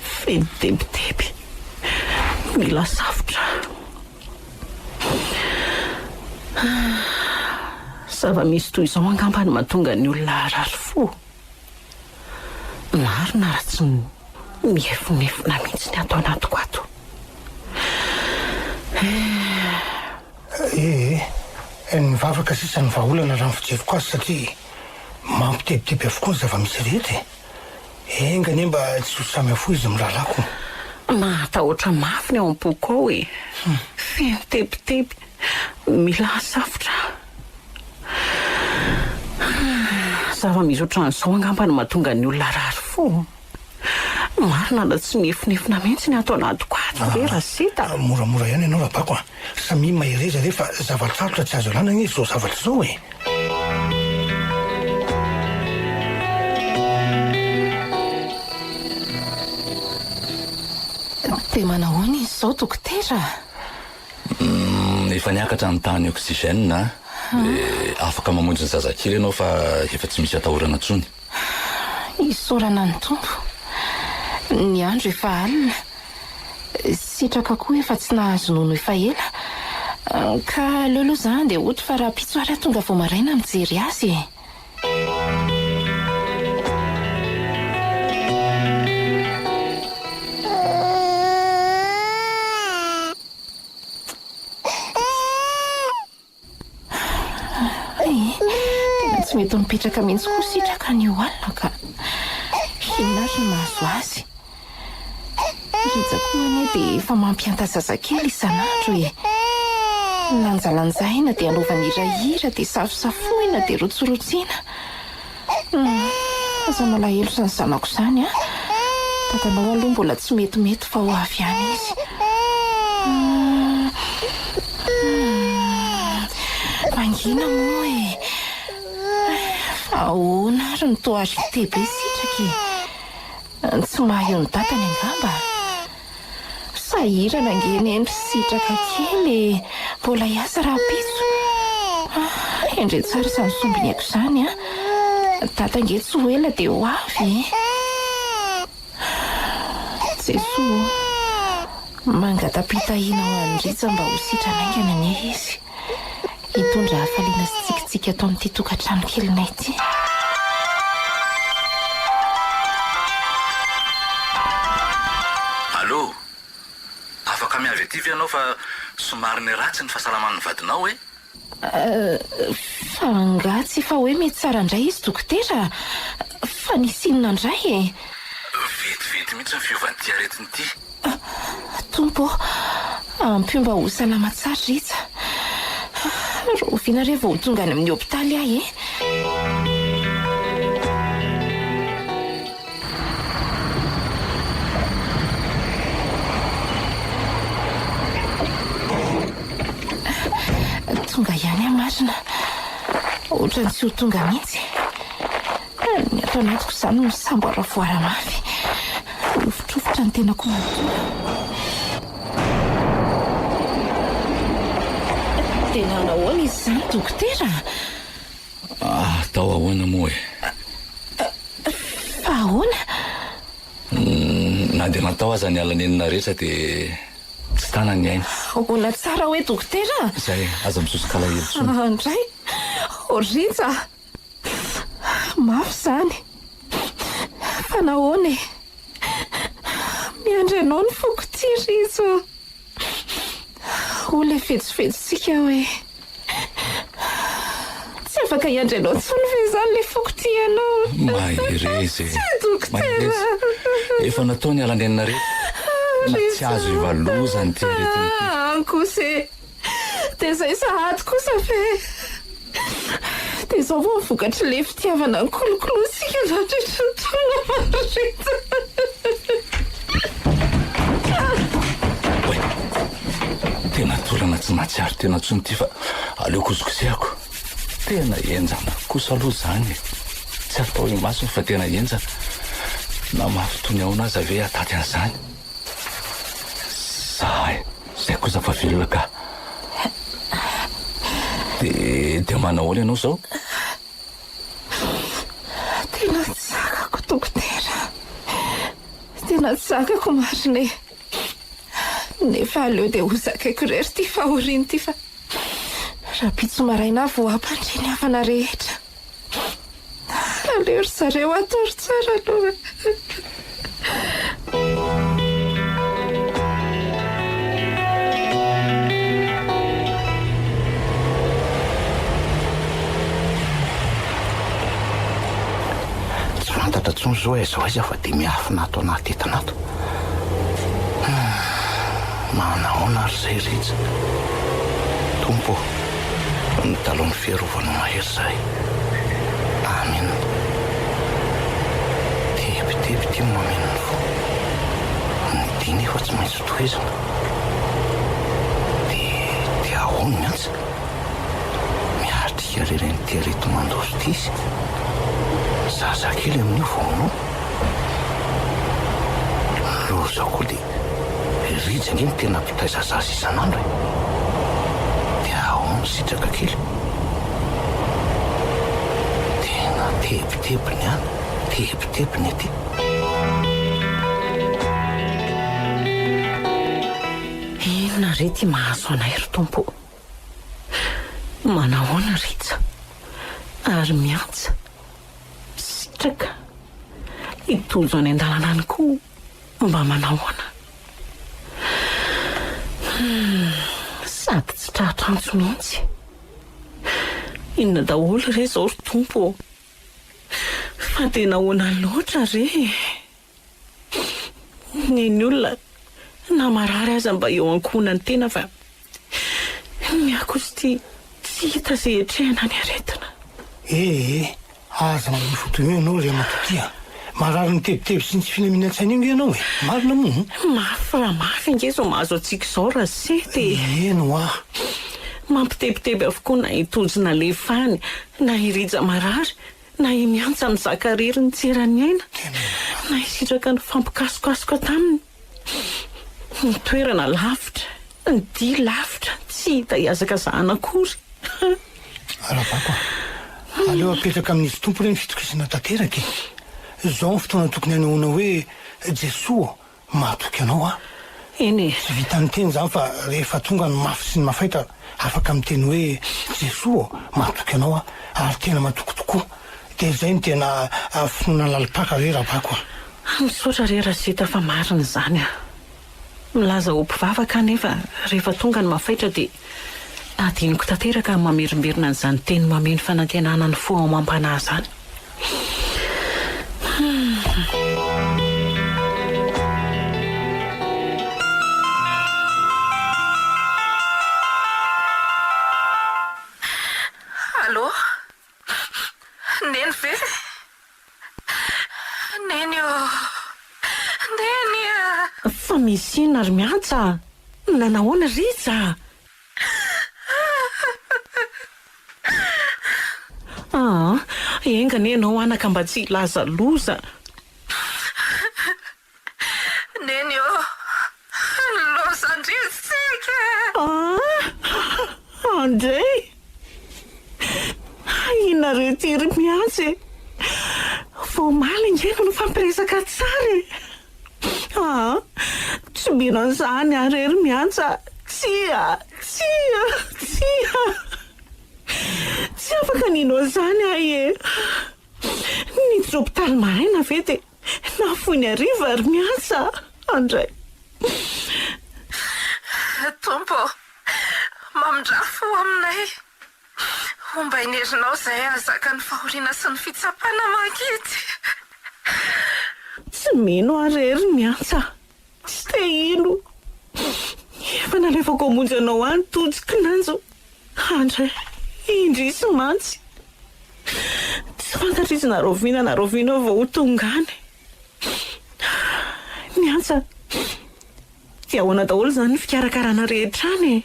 A: Feno tebiteby. Mila savotra aho. Zava-misy toy izao angamba no mahatonga ny olona harary fo. Marina ary tsy mihefonefona mihitsy ny ato anatiko ato
D: eh. Eh eh, nivavaka sisa ny vahaolana raha ny fijeriko azy satria mampitebiteby avokoa ny zava-misy rehetra e. Enga anie mba tsy ho samy afoy izy mirahalahyko. Mahatahotra
A: mafy ny ao am-poko ao e. Feno tebiteby, mila safotra. Zava-misy ohatran'izao angamba no mahatonga ny olona harary fo. Marina na tsy mihefonefona mihitsy ny ato anatiko ato ve Rasita? Moramora ihany ianao Rabako
D: a! Samia mahereza re fa zava-tsarotra tsy azo alana anie izao zavatra izao e!
E: Dia manahoana izy izao dokotera?
H: Efa niakatra ny tahan'ny oxygène dia afaka mamonjy ny zazakely ianao fa efa tsy misy atahorana intsony.
E: Isaorana ny Tompo. Ny andro efa alina. Sitraka koa efa tsy nahazo nono efa ela. Ka aleo aloha za handeha hody fa rahampitso ary aho tonga vao maraina mijery azy e. mety mipetraka mihitsy koa sitraka an'io alina ka. Inona ary no mahazo azy? Rija koa anie dia efa mampianta zazakely isan'andro e! Lanjalanjaina dia anaovana iray hira dia safosafoina dia rotsirotsiana. Hum, aza malahelo izany zanako izany an! Dadanao aloha mbola tsy metimety fa ho avy ihany izy. Hum, mangina moa e! Fa ahoana ary no toa rite be sitraka e! Tsy maha eo ny datany angamba? Sahirana ange nendry sitraka kely e! Mbola hiasa rahampitso? Endrey tsara izany sombiniako izany a! Dada ange tsy ho ela dia ho avy e! Jesoa o! Mangata-pitahiana ho an'i Rija mba ho sitrana haingana anie izy. Hitondra hafaliana sy tsikitsiky ato amin'ity tokantrano kelinay ity.
H: Allo! Afaka miavy aty ve ianao fa somary niratsy ny fahasalaman'ny vadinao e?
E: Fa angaha tsy efa hoe mety tsara indray izy dokotera? Fa nisy inona indray e? Vetivety
H: mihitsy ny fiovan'ity aretina ity. Tompo
E: ô, ampio mba ho salama tsara Rija. Rahoviana re vao ho tonga any amin'ny hopitaly ahy e? Tonga ihany aho marina. Ohatran'ny tsy ho tonga mihitsy. Ary ny ato anatiko izany misamboaravoara mafy. Mirovitrovitrotra ny tenako manontolo. Dia nanao ahoana izy izany, dokotera?
H: Atao ahoana moa e?
E: Fa ahoana?
H: Na dia natao aza ny alanenina rehetra dia tsy tana ny ainy. Ahoana tsara hoe
E: dokotera? Izay, aza
H: misoso-kalahelo intsony. Indray,
E: Orinsa. Mafy izany. Fa nahoana e? Miandry anao ny foko tia Rizo. Hoy ilay vetsovetsontsika hoe tsy afaka hiandry anao intsony ve izany ilay foko tia anao? Mahereza
H: e. Tsy dokotera.
E: Efa
H: natao ny alanenina rehetra. Tsy azo ivalozan'ity aretina ity. Ankose.
E: Dia izay sahady kosa ve? Dia izao vao vokatr'ilay fitiavana nikolokolosika nandritry ny taona maro ireto.
H: Tena toerana tsy nahatsiaro tena intsony ity fa aleoko hozokosehako. Tena henjana kosa aloha izany e! Tsy atao imasoko fa tena henjana. Na mafy toy ny ahoana aza ve hahataty an'izany? Zahay. Zay kosa fa velona ka. Dia manao ahoana ianao izao?
E: Tena tsy zakako dokotera. Tena tsy zakako marina e. Nefa aleo dia ho zakaiko irery ity fahoriana ity fa rahampitso maraina aho vao hampandre ny havana rehetra. Aleo ry zareo atoro tsara aloha
D: fantatra intsony izao aiza ho aiza fa dia miafina ato anaty entana ato. Manahoana ary izay Rija? Tompo ô! ny dalohan'ny fiarovany mahery zahay. Amin. Tebiteby ity mameno ny fo. Ny dia nefa tsy maintsy tohizina. Dia dia ahoana ny antsy? Miatrika irery an'ity areti mandoso ity izy. Zazakely amin'io vao manao. Lozako dia Rija ange no tena mpitaiza zaza isan'andro e! Dia ahoana ny sitraka kely? Tena tebitebiny any, tebitebiny ety. Inona
A: re ity mahazo anay ry Tompo o! Manahoana Rija ary miantsa sitraka hitonjo any an-dalana any koa? Ho mba manahoana? Humm, sady tsy tratra antso mihitsy. Inona daholo re izao ry Tompo ô? Fa dia nahoana loatra re e? Neny olona na marary aza mba eo ankohonan'ny tena fa. Ny akosy ty tsy hita ze etrehana ny aretina. Ee ee, aza
D: manao foto eo ianao ry ramatoa ty a! Marary ny tebiteby sy ny tsy filaminantsaina io nge ianao e! Marina moa an? Mafy raha mafy
A: ange izao mahazo antsika izao raha seta e! Eny hoa!
D: Mampitebiteby
A: avokoa na i Tojo nalefany, na i Rija marary, na i Miantsa mizaka rery nitsera ny aina, na i Sitraka nifampikasokasoka taminy. Ny toerana lavitra, ny dia lavitra, tsy hita hihazakazahana akory.
D: Ravako a! Aleo apetraka amin'Izy Tompo re ny fitokisana tanteraka e! Izao ny fotoana tokony hanehoana hoe, Jesoa ô, mahatoky Anao aho. Eny e! Tsy
A: vitan'ny teny
D: izany fa rehefa tonga ny mafy sy ny mafaitra, afaka miteny hoe, Jesoa ô, mahatoky Anao aho, ary tena matoky tokoa. Dia izay no tena finoana lalim-paka re Ravako a! Ah misaotra re
A: Rachita fa marina izany ah. Milaza ho mpivavaka aho nefa rehefa tonga ny mafaitra dia adinoko tanteraka ny mamerimberina an'izany teny mameno fanantenana ny fo ao amam-panahy izany.
E: Allô. Neny ve? Neny ô! Neny a! Fa misy
A: inona ry Miantsa a! Nanahoana Rija a! Aa! Enga anie ianao anaka mba tsy hilaza loza.
E: Neny ô! Lozan-dRisitsika e! Aah!
A: Andrey! Ahiana reto iry miantsy e! Vao omaly ange no nifampiresaka tsara e! Aah! Tsobina an'izany aho irery miantsy a! Tsia! Tsia! Tsia! Tsy afaka nino an'izany aho e! Nijoro tany maraina ve dia Nahafoy ny hariva ary miasa aho indray.
E: Tompo ô, mamindrà fo aminay. Ombain'ny herinao izay hahazaka ny fahoriana sy ny fitsapana mangidy.
A: Tsy mino aho irery miantsa. Tsy te hino Efa nalefako hamonjy anao any Tojo kinanjo Andry eh Indrisy mantsy Tsy fantatra izy na rahoviana na rahoviana vao ho tonga any Ny antsa Dia ahoana daholo izany ny fikarakarana rehetra any e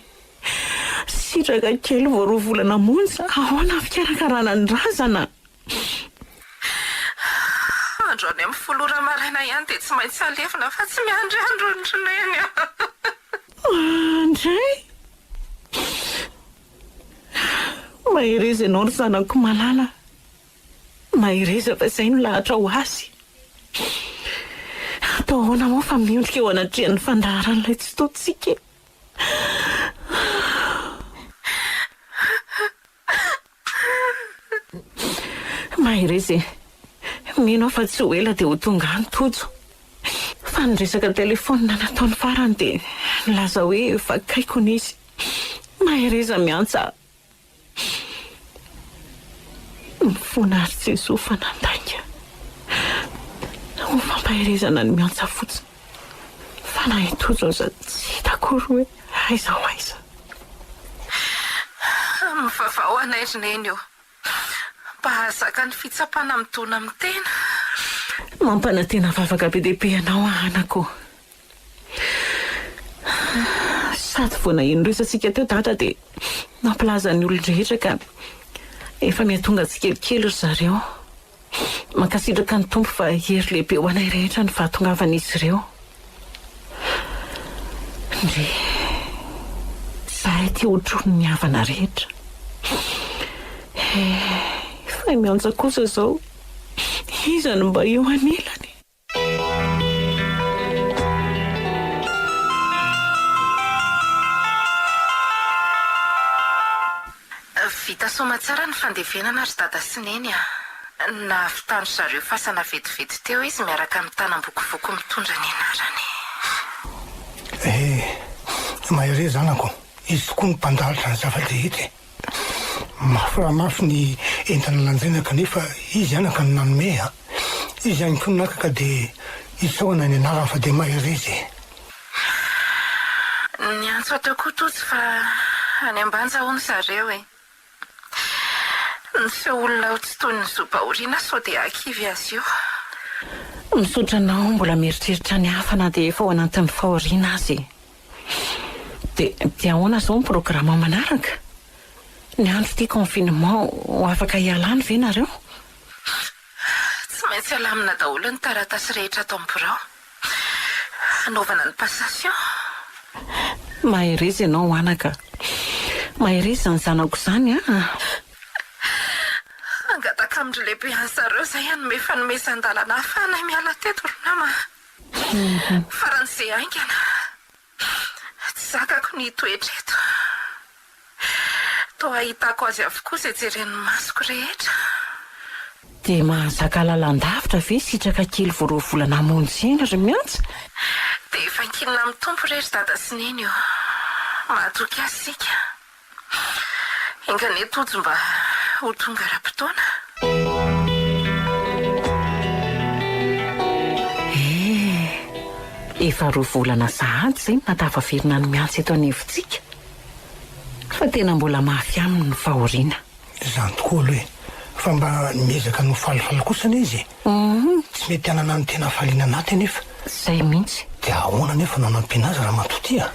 A: Sitraka kely vao roa volana monja Ahoana ny fikarakarana ny razana?
E: Andro any amin'ny folo ora maraina ihany dia tsy maintsy alevina fa tsy miandry andro ny Rineny an! Mandray!
A: Mahereza ianao ry zanako malala a! Mahereza fa izay no lahatra ho azy! Atao ahoana moa fa miondrika eo anatrehan'ny fandaharan'ilay Tsitoha-tsika e! Mahereza e! Mino aho fa tsy ho ela dia ho tonga any Tojo. Fa ny resaka telefaonina nataony farany dia nilaza hoe vakaiko ny izy. Mahereza miantsa aho. Mifona ary Jesoa fa nandainga. Ho fampaherezana ny miantsa fotsiny. Fa na i Tojo aza tsy hita akory hoe aiza ho aiza.
E: Mivavao anay ry Neny o. Mba hahazaka ny fitsapana midona amin'ny tena.
A: Mampanantena vavaka be dia be anao aho anako o. Sady vao naheno ny resatsika teo Dada dia nampilaza ny olon-drehetra ka efa miha tonga tsikelikely ry zareo. Mankasitraka ny Tompo fa hery lehibe ho anay rehetra ny fahatongavan'izy ireo. Ndry. Zahay ty otrony ny havana rehetra. He. Fay miantsa kosa zao. Iza no mba eo anilany?
E: Vita soamatsara ny fandevenana ry dada sy neny a! Nahavitan-dry zareo fasana vetivety teo izy miaraka amin'ny tanam-bokovoko mitondra ny anarany. He!
D: Mahereza anako, izy tokoa no mpandalitra ny zava-drehetra e! Mafy raha mafy ny entana lanjaina kanefa izy ihany anka no nanome a! Izy ihany koa no naka ka dia isaorana ny anarany fa dia mahery izy e! Ahh!
E: Niantso ato koa Tojo fa any Ambanja hono zareo e! Miseho olona ho tsy toy ny zobaorina sao dia hakivy azy io!
A: Misaotra anao mbola mieritreritra ny hafa na dia efa ao anatin'ny fahoriana aza e! Dia dia ahoana izao ny programme manaraka? Ny andro ity confinement ho afaka hialany ve nareo?
E: Tsy maintsy alamina daholo ny taratasy rehetra ato amin'ny birao. Hanaovana ny passation.
A: Mahereza ianao anaka. Mahereza ny zanako izany an!
E: Hangataka amin-dry lehibe an'i zareo izay hanome fanomezan-dalana hahafahanay miala teto ry nama. Faran'ny ze haingana, tsy zakako ny hitoetra eto. Toa ahitako azy avokoa ze jeren'ny masoko rehetra.
A: Dia mahazaka lalandavitra ve sitraka kely vao roa volana hamonjy saina ry Miantsa? Dia efa
E: ankinina amin'ny Tompo re ry Dada sy Neny o. Mahatoky azy isika. Enga anie Tojo mba ho tonga ara-potoana.
A: Eh! Efa roa volana sahady izay no nahatafaverina ny miantsa eto anivontsika fa tena mbola mafy aminy ny fahoriana. Izany tokoa aloha
D: e! Fa mba miezaka ny ho falifaly kosa anie izy e! Tsy mety hanana ny tena hafaliana anaty anefa. Izay mihitsy.
A: Dia ahoana anefa no
D: hanampiana azy Ramatoa Tia?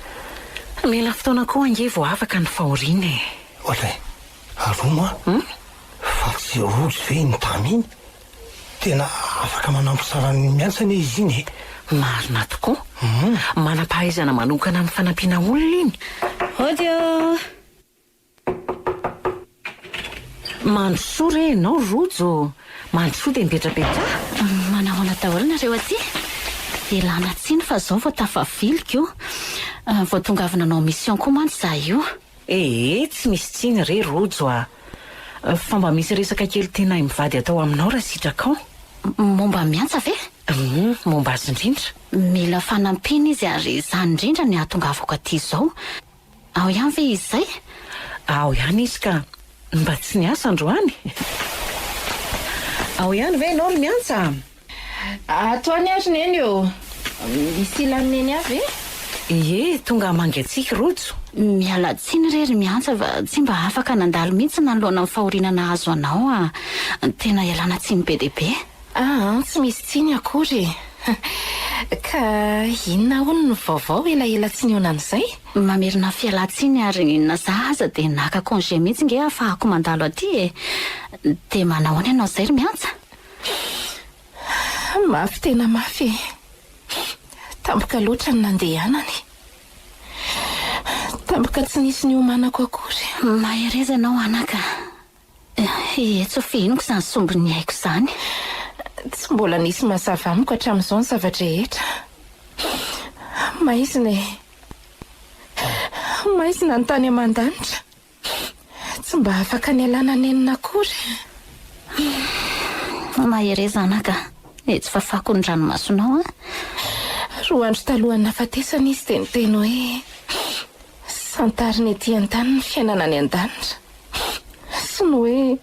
D: Mila
A: fotoana koa ange vao afaka ny fahoriana e! Ohatra e!
D: Ary hono an! Fa tsy rojo ve iny Tamy iny? Tena afaka manampy tsara ny miantsy anie izy iny e! Marina
A: tokoa! Manam-pahaizana manokana amin'ny fanampiana olona iny! Audio. Mandrosoa re ianao Rojo ô! Mandrosoa dia mipetrapetraha! Manahoana
B: daholo nareo aty? Ialana tsiny fa zao vao tafavily ko! Vao tonga avy nanao mission koa mantsy za io! Ee tsy
A: misy tsiny re Rojo a! Fa mba misy resaka kely tianay mivady atao aminao raha sitrakao! Momba an'i
B: Antsa ve? Humm momba azy
A: indrindra! Mila fanampiana
B: izy ary izany indrindra no hahatongavako aty izao! Ao ihany ve izy izay? Ao ihany
A: izy ka. Mba tsy niasa androany? Ao ihany ve ianao ry Miantsa? Ato
E: ihany ary Neny ô. Misy ilan'i Neny ahy ve? Ie, tonga hamangiantsika
A: Rojo. Miala tsiny
B: re ry Miantsa fa tsy mba afaka nandalo mihitsy nanoloana ny fahoriana nahazo anao an. Tena ialana tsiny be dia be. Ah an, tsy misy
E: tsiny akory e! Ka inona hono ny vaovao elaela tsy nionan'izay? Mamerina
B: fialan-tsiny ary na za aza dia naka congé mihitsy nge hahafahako mandalo aty e! Dia manahoana ianao izay ry Miantsa?
E: Mafy tena mafy e! Tampoka loatra ny nandehanany. Tampoka tsy nisy niomanako akory. Mahereza ianao
B: anaka. Eeh, tsy ho fihiniko izany sombin'ny aiko izany. Tsy
E: mbola nisy mazava amiko hatramin'izao ny zava-drehetra. Maizina e. Maizina ny tany aman-danitra. Tsy mba afaka nialana nenina akory.
B: Mahereza anaka, etsy fafako ny ranomasonao an.
E: Roa andro talohan'ny nahafatesana izy dia niteny hoe, Santarina ety an-tany ny fiainana any an-danitra. Sy ny hoe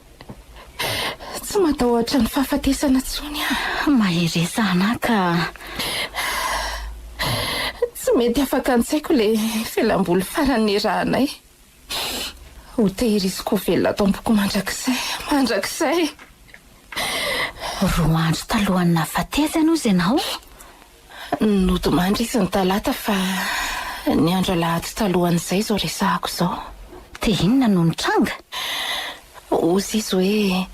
E: tsy matahotra ny fahafatesana intsony aho. Mahereza
B: anà ka.
E: Tsy mety afaka an-tsaiko ilay fialam-boly farany niarahanay. Ho tehiriziko ho velona ato am-poko mandrakizay, mandrakizay!
B: Roa andro talohan'ny nahafatesany hozy ianao?
E: Nodimandry izy ny talata fa ny andro alahady talohan'izay izao resahako izao. Dia inona no
B: nitranga?
E: Hozy izy hoe,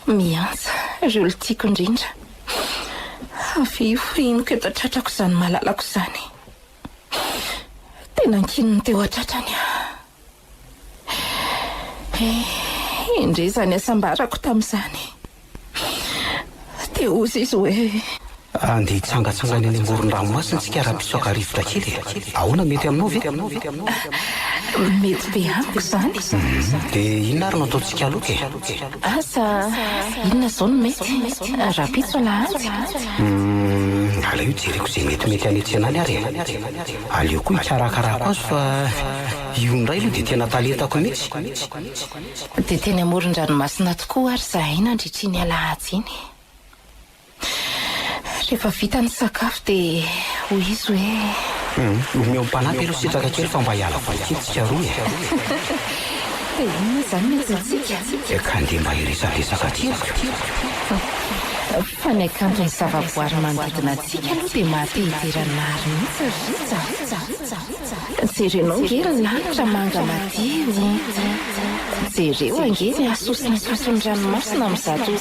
E: Miantsa ireo olona tiako indrindra. Avy eo henoko eto an-tratrako izany malalako izany. Dia nankininy teo an-tratrany aho. Eh, indry izany hasambarako tamin'izany. Dia hozy izy hoe. Andeha
C: hitsangatsangana eny amoron-dranomasina isika raha mpisaoka rivotra kely e. Ahoana, mety aminao ve? Mety
E: be amiko izany. Dia inona
C: ary no ataontsika aloka e? Asa
E: inona izao no mety? Rahampitso alahady? Hum,
C: aleo hijereko izay metimety hanetsena any ary e. Aleo koa hikarakarako azy fa. Io indray aloha dia tena talentako mihitsy.
E: Dia teny amoron-dranomasina tokoa ary izahay nandritry iny alahady iny. Rehefa vita ny sakafo dia hoy izy hoe. Omeo mpanampy
C: aloha sitraka kely fa mba hiala voly kely tsika roa e. Dia inona izany ny
E: antsointsika? Dia ka andeha mba
C: hiresadresaka aty aza.
E: Fa ny hakanton'ny zavaboary manodidina antsika aloha dia maha te hidera ny nahary mihitsy ry Rija a! Jerenao ange ry lanitra manga madio o! Jereo ange ny hasosin'hasosin'ny ranomasina amin'izato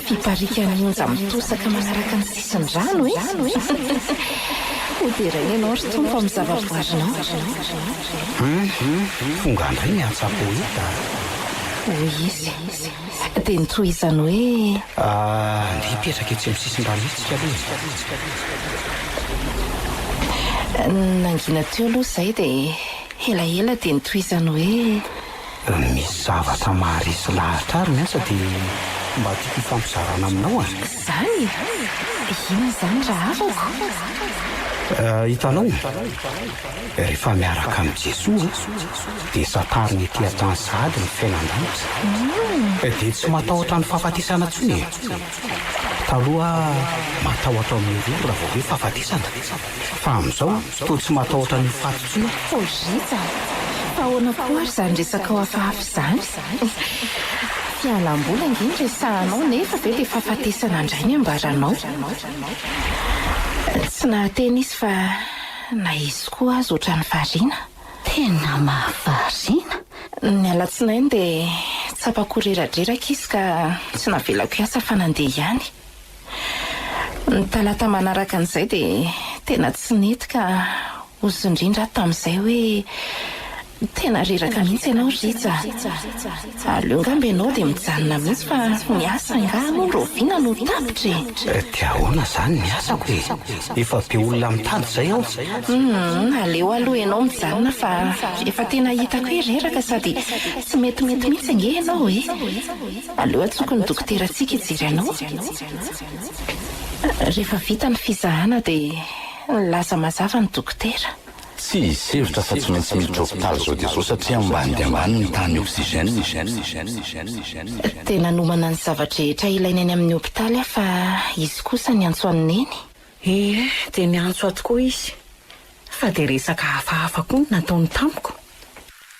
E: fiparikan'ny onja mitosaka manaraka ny sisin-drano e! Hoderaina ianao ry Tompo amin'ny zavaboarinao. Hum,
C: tonga indray ny antsa poeta a! hoy
E: izy. Dia nitsoa izany hoe. Andeha
C: hipetraka etsy amin'ny sisin-drano etsy isika aloha e. Nangina teo
E: aloha izay dia elaela dia nitsoa izany hoe. Misy zavatra
C: maharesy lahatra ary ny asa dia mba tiako hifampizarana aminao a. Izany
E: e! Inona izany rahafako?
C: Hitanao? Rehefa miaraka amin'i Jesoa dia santariny ety an-tany sahady ny fiainan-danitra dia tsy matahotra ny fahafatesana intsony e! Taloha matahotra ny roa raha vao hoe fahafatesana fa amin'izao toa tsy matahotra an'io faty intsony aho. Fojita a!
E: Fa ahoana koa ary izany resakao hafahafa izany? Fialam-boly ange no resahanao nefa ve dia fahafatesana indray ny ambaranao? Tsy nahateny izy fa. Na izy koa aza otrany variana. Tena
B: mahavariana. Ny
E: alatsinainy dia tsapako ho reradreraka izy ka tsy navelako hiasa fa nandeha ihany. Ny talata manaraka an'izay dia tena tsy nety ka ozy indrindra aho tamin'izay hoe Tena reraka mihitsy ianao Rija a! Aleo angamba ianao dia mijanona mihitsy fa ny asa angaha aloha raoviana no tapitra e! Eh, dia ahoana
C: izany ny asako e! Efa be olona mitady izay ao. Humm, aleo
E: aloha ianao mijanona fa efa tena hitako hoe reraka sady tsy metimety mihitsy ange ianao e! Aleo antsoiko ny dokoterantsika hijery anao. Rehefa vita ny fizahana dia nilaza mazava ny dokotera. Tsy hisevotra
H: afa-tsy maintsy miditra hopitaly izao dia izao satria ambany dia ambany ny tahan'ny oxygène.
E: Dia nanomana ny zava-drehetra ilaina eny amin'ny hopitaly aho fa izy kosa niantso an'i Neny. Ie,
A: dia niantso ahy tokoa izy. Fa dia resaka hafahafa koa no nataony tamiko.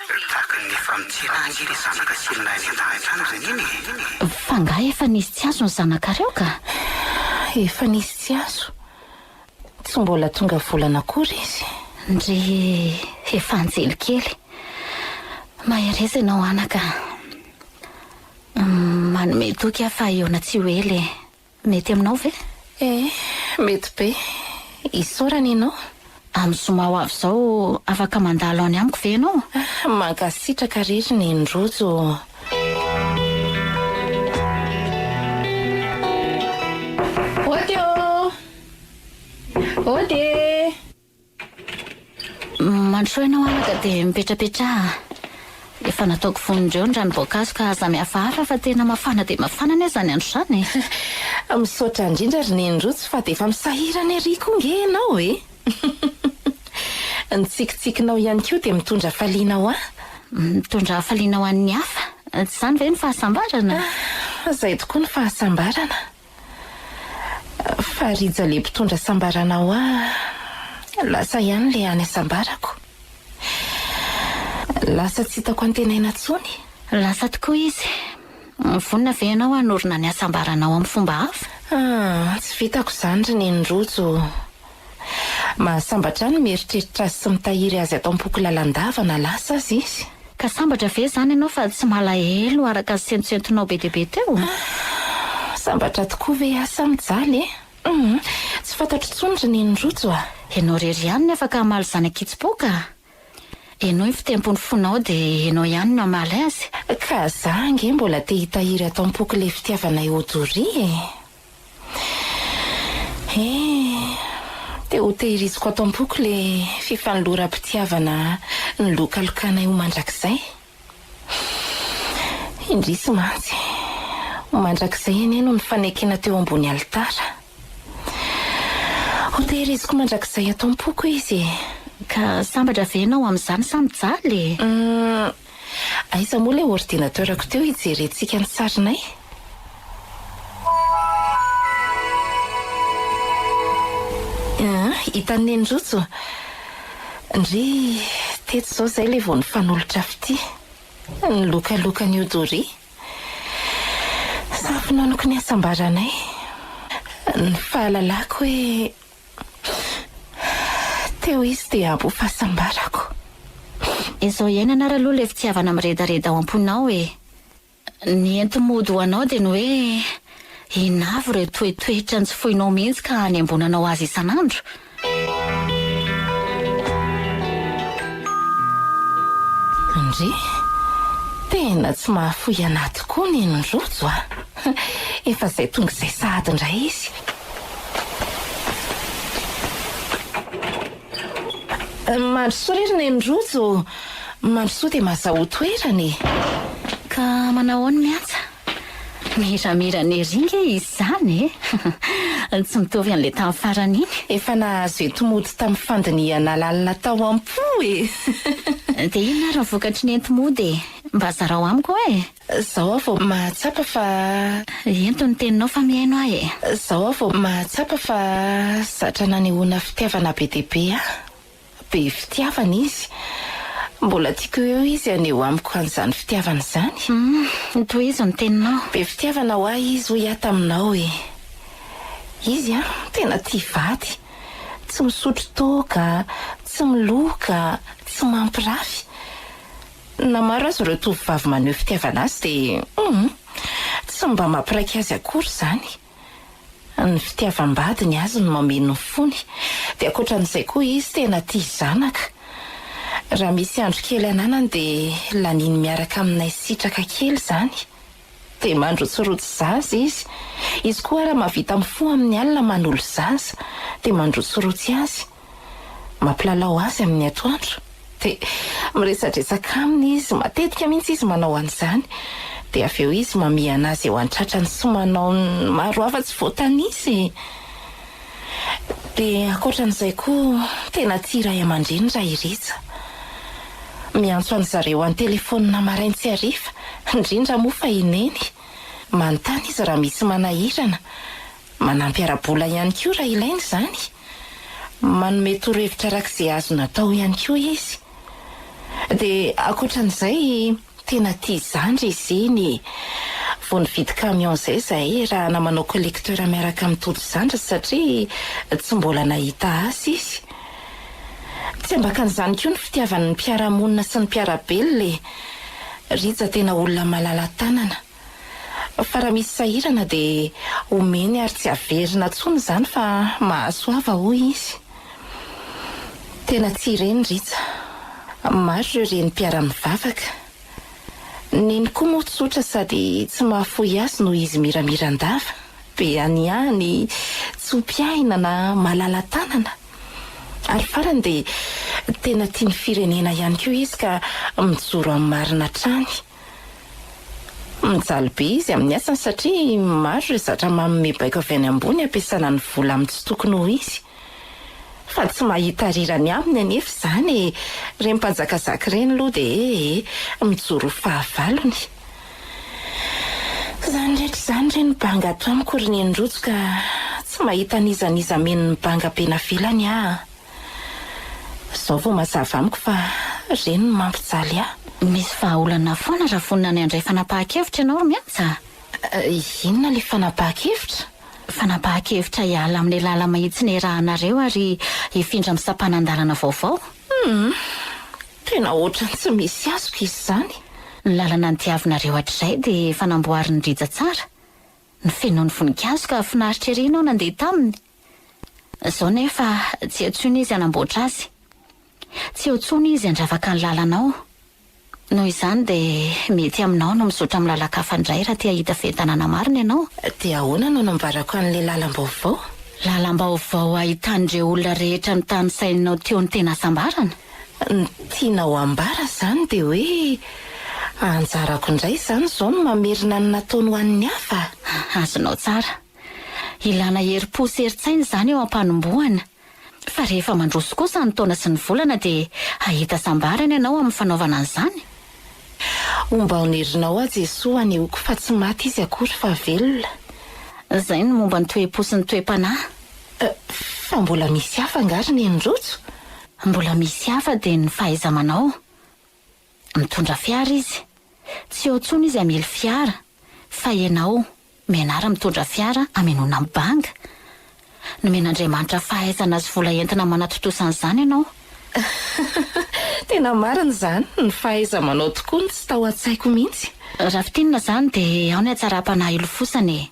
C: Tahaky ny efa mitsilaha ange le zanaka sy ilay any an-dahatra any zany iny e! F'angaha
B: efa nisy tsy azo ny zanakareo ka? Efa
E: nisy tsy azo. Tsy mbola tonga volana akory izy. Ndry
B: efa anjely kely. Mahereza ianao anaka a! Manome toky aho fa ahiona tsy ho ela e! Mety aminao ve? Eh,
E: mety be. Isaorana ianao. Amin'ny zoma
B: ho avy izao, afaka mandalo any amiko ve ianao? Mankasitraka
E: re ry Neny Rojo ô. Ody ô! Ody e!
B: Mandrosoa ianao araka dia mipetrapetraha an! Efa nataoko vonon'ireo ny ranom-boankazo ka aza mihafahafa fa tena mafana dia mafana anie izany andro izany e! Misaotra
E: indrindra ry Neny Rojo fa dia efa misahirana ery koa ange ianao e! Ny tsikitsikinao ihany koa dia mitondra hafaliana ho ahy. Mitondra
B: hafaliana ho an'ny hafa? Tsy izany ve ny fahasambarana? Izay
E: tokoa ny fahasambarana. Fa ry Jale mpitondra sambarana hoa lasa ihany ilay any asambarako. Lasa tsy hitako antenaina intsony. Lasa tokoa
B: izy. Vonona ve ianao hanorina ny asambaranao amin'ny fomba hafa? Ah, tsy
E: vitako izany ry Neny Rojo. Mahasambatra ahy ny mieritreritra azy sy mitahiry azy ato am-poko lalandava na lasa aza izy. Ka sambatra ve
B: izany ianao fa tsy malahelo araka ny sentosentonao be dia be teo?
E: Sambatra tokoa ve aho sa mijaly e? Humm, tsy fantatro intsony ry neny rojo a! Ianao irery ihany
B: ny afaka hamaly izany ankitsim-po ka! Henoy ny fitempon'ny fonao dia ianao ihany no hamaly azy. Ka za ange
E: mbola te hitahiry ato am-poko ilay fitiavanay ho doria e! Eh, dia ho tehiriziko ato am-poko ilay fifanoloram-pitiavana nolokalokànay ho mandrakizay. Indrisy mantsy, ho mandrakizay anie no nifanekena teo ambony alitara. Ho tehiriziko mandrakizay ato am-poko izy e. Ka
B: sambatra ve ianao amin'izany sa mijaly e? Uhm,
E: Aiza moa ilay ordinateur-ko teo hijerentsika ny sarinay? Aa, hitan'i Neny rojo. Ndry, tetsy izao izay ilay vao nifanolotra fitia. Nilokaloka an'i Odori. Samy finonoko ny hasambaranay. Ny fahalalako hoe Teo izy dia abo fahasambarako.
B: Izao iainana ary aloha ilay fitiavana miredareda ao am-ponao e! Ny enti-mody ho anao dia ny hoe inona avy ireo toetoetra tsy foinao mihitsy ka hanembonanao azy isan'andro?
E: Ndry! Tena tsy mahafoy anà tokoa ny an'i Rojo a! Efa izay tonga izay sahady indray izy. Mandrosoa ry Neny rojo ô! Mandrosoa dia mazahoa toerana e! Ka
B: manao ahoana ny antsa? Miramira ny ery nge izy izany e! Tsy mitovy an'ilay tamin'ny farany iny. Efa nahazo eto
E: mody tamin'ny fandinihana lalina tao am-po e! Dia
B: inona ary ny vokatry ny enti-mody e? Mba zarao amiko e! Zao aho vao
E: mahatsapa fa. Ento ny
B: teninao fa mihaino ahy e. Zao aho vao mahatsapa
E: fa zatra nanehoana fitiavana be dia be aho. Be fitiavana izy. Mbola tiako ho eo izy haneho amiko an'izany fitiavana izany. Humm, tohizo ny teninao.
B: Be fitiavana ho ahy
E: izy hoy aho taminao e. Izy an, tena tia vady. Tsy misotro toaka, tsy miloka, tsy mampirafy. Na maro aza ireo tovovavy maneho fitiavana azy dia hum! tsy mba mampiraika azy akory izany. Ny fitiavam-badiny azy no mameno ny fony. Dia ankoatra an'izay koa izy tena tia zanaka. Raha misy andro kely ananany dia laniny miaraka aminay sitraka kely izany. Dia mandrotsirotsy zaza izy. Izy koa ary mahavita mifoha amin'ny alina manolo zaza. Dia mandrotsirotsy azy. Mampilalao azy amin'ny atoandro. Dia miresadresaka aminy izy. Matetika mihitsy izy manao an'izany. Dia avy eo izy mamihana azy eo an-tratrany sy manao ny maro hafa tsy voatanisa e! Dia ankoatran'izay koa tena tia ray aman-dreny raha i Rija. Miantso an-dry zareo an-telefaonina marain sy hariva, indrindra moa fa i Neny. Manontany izy raha misy manahirana. Manampy ara-bola ihany koa raha ilaina izany. Manome torohevitra arak'izay azony atao ihany koa izy. Dia ankoatran'izay. Tena tia izany ry Zeny e! Vao nividy camion izay zahay raha na manao collecteur miaraka amin'ny Tojo zandriny satria tsy mbola nahita asa izy. Tsy ambakan'izany koa ny fitiavany ny mpiara-monina sy ny mpiara-belona e! Rija tena olona malala tanana. Fa raha misy sahirana dia omeny ary tsy averina intsony izany fa mahasoava hoy izy. Tena tsy ireny Rija. Maro ireo reny mpiara-mivavaka. Neny koa moa tsotra sady tsy mahafoy azy noho izy miramira an-dava, be anihany, tsy ho mpiahina na malala tanana. Ary farany dia tena tia ny firenena ihany koa izy ka mijoro amin'ny marina hatrany. Mijaly be izy amin'ny asany satria maro ireo zatra manome baiko avy any ambony ampiasana ny vola amin'ny tsy tokony ho izy. Fa tsy mahita rirany aminy anefa izany e! Ireny mpanjakazaka ireny aloha dia he he! Mijoro ho fahavalony. Izany rehetra izany re no banga ato amiko ry Nenirotso ka tsy mahita an'iza n'iza mino ny banga be navelany aho. Izao vao mazava amiko fa ireny no mampijaly ahy. Misy vahaolana
B: foana raha vonona ny handray fanapahan-kevitra ianao ry Miantsa a! Inona
E: ilay fanapahan-kevitra? Fanapahan-kevitra
B: hiala amin'ny lala-mahitsy nihirahanareo ary hifindra amin'ny sampanan-dalana vaovao. Humm!
E: Tena ohatran'ny tsy misy azoko izy izany. Ny lalana
B: nodiavinareo hatrizay dia efa namboarin'i Rija tsara. Nofenoiny voninkazo ka finaritra ery ianao nandeha taminy. Izao nefa tsy eo tsony izy hanamboatra azy. Tsy eo tsony izy handravaka ny lalanao. Noho izany dia mety aminao no mizotra amin'ny lalan-kafa indray raha te hahita fientanana
E: marina
B: ianao.
E: Dia
B: ahoana no nambarako an'ilay lalam-baovao? Lalam-baovao ahitan'ireo olona rehetra notanisainao teo ny tena hasambarana? Ny
E: tianao hambara izany dia hoe anjarako indray izany izao ny mamerina ny nataony ho an'ny hafa? Azonao tsara.
B: Ilana herim-po sy herin-tsaina izany eo am-panombohana. Fa rehefa mandroso kosa ny taona sy ny volana dia hahita sambarana ianao amin'ny fanaovana an'izany?
E: Homba ho nerinao aho Jesoa anehoako fa tsy maty izy akory fa velona. Izay
B: ny momba ny toe-po sy ny toe-panahy.
E: Fa mbola misy hafa angaha ry Neny Rojo? Mbola misy
B: hafa dia ny fahaiza-manao. Mitondra fiara izy. Tsy eo intsony izy hamily fiara. Fa ianao. Menard mitondra fiara hamenoana ny banga. Nomen'Andriamanitra fahaizana sy vola entina manatontosa an'izany ianao.
E: Tena marina izany, ny fahaiza-manao tokoa no tsy tao an-tsaiko mihitsy. Raha fintinina izany
B: dia ao ny hatsaram-panahy hilofosana e!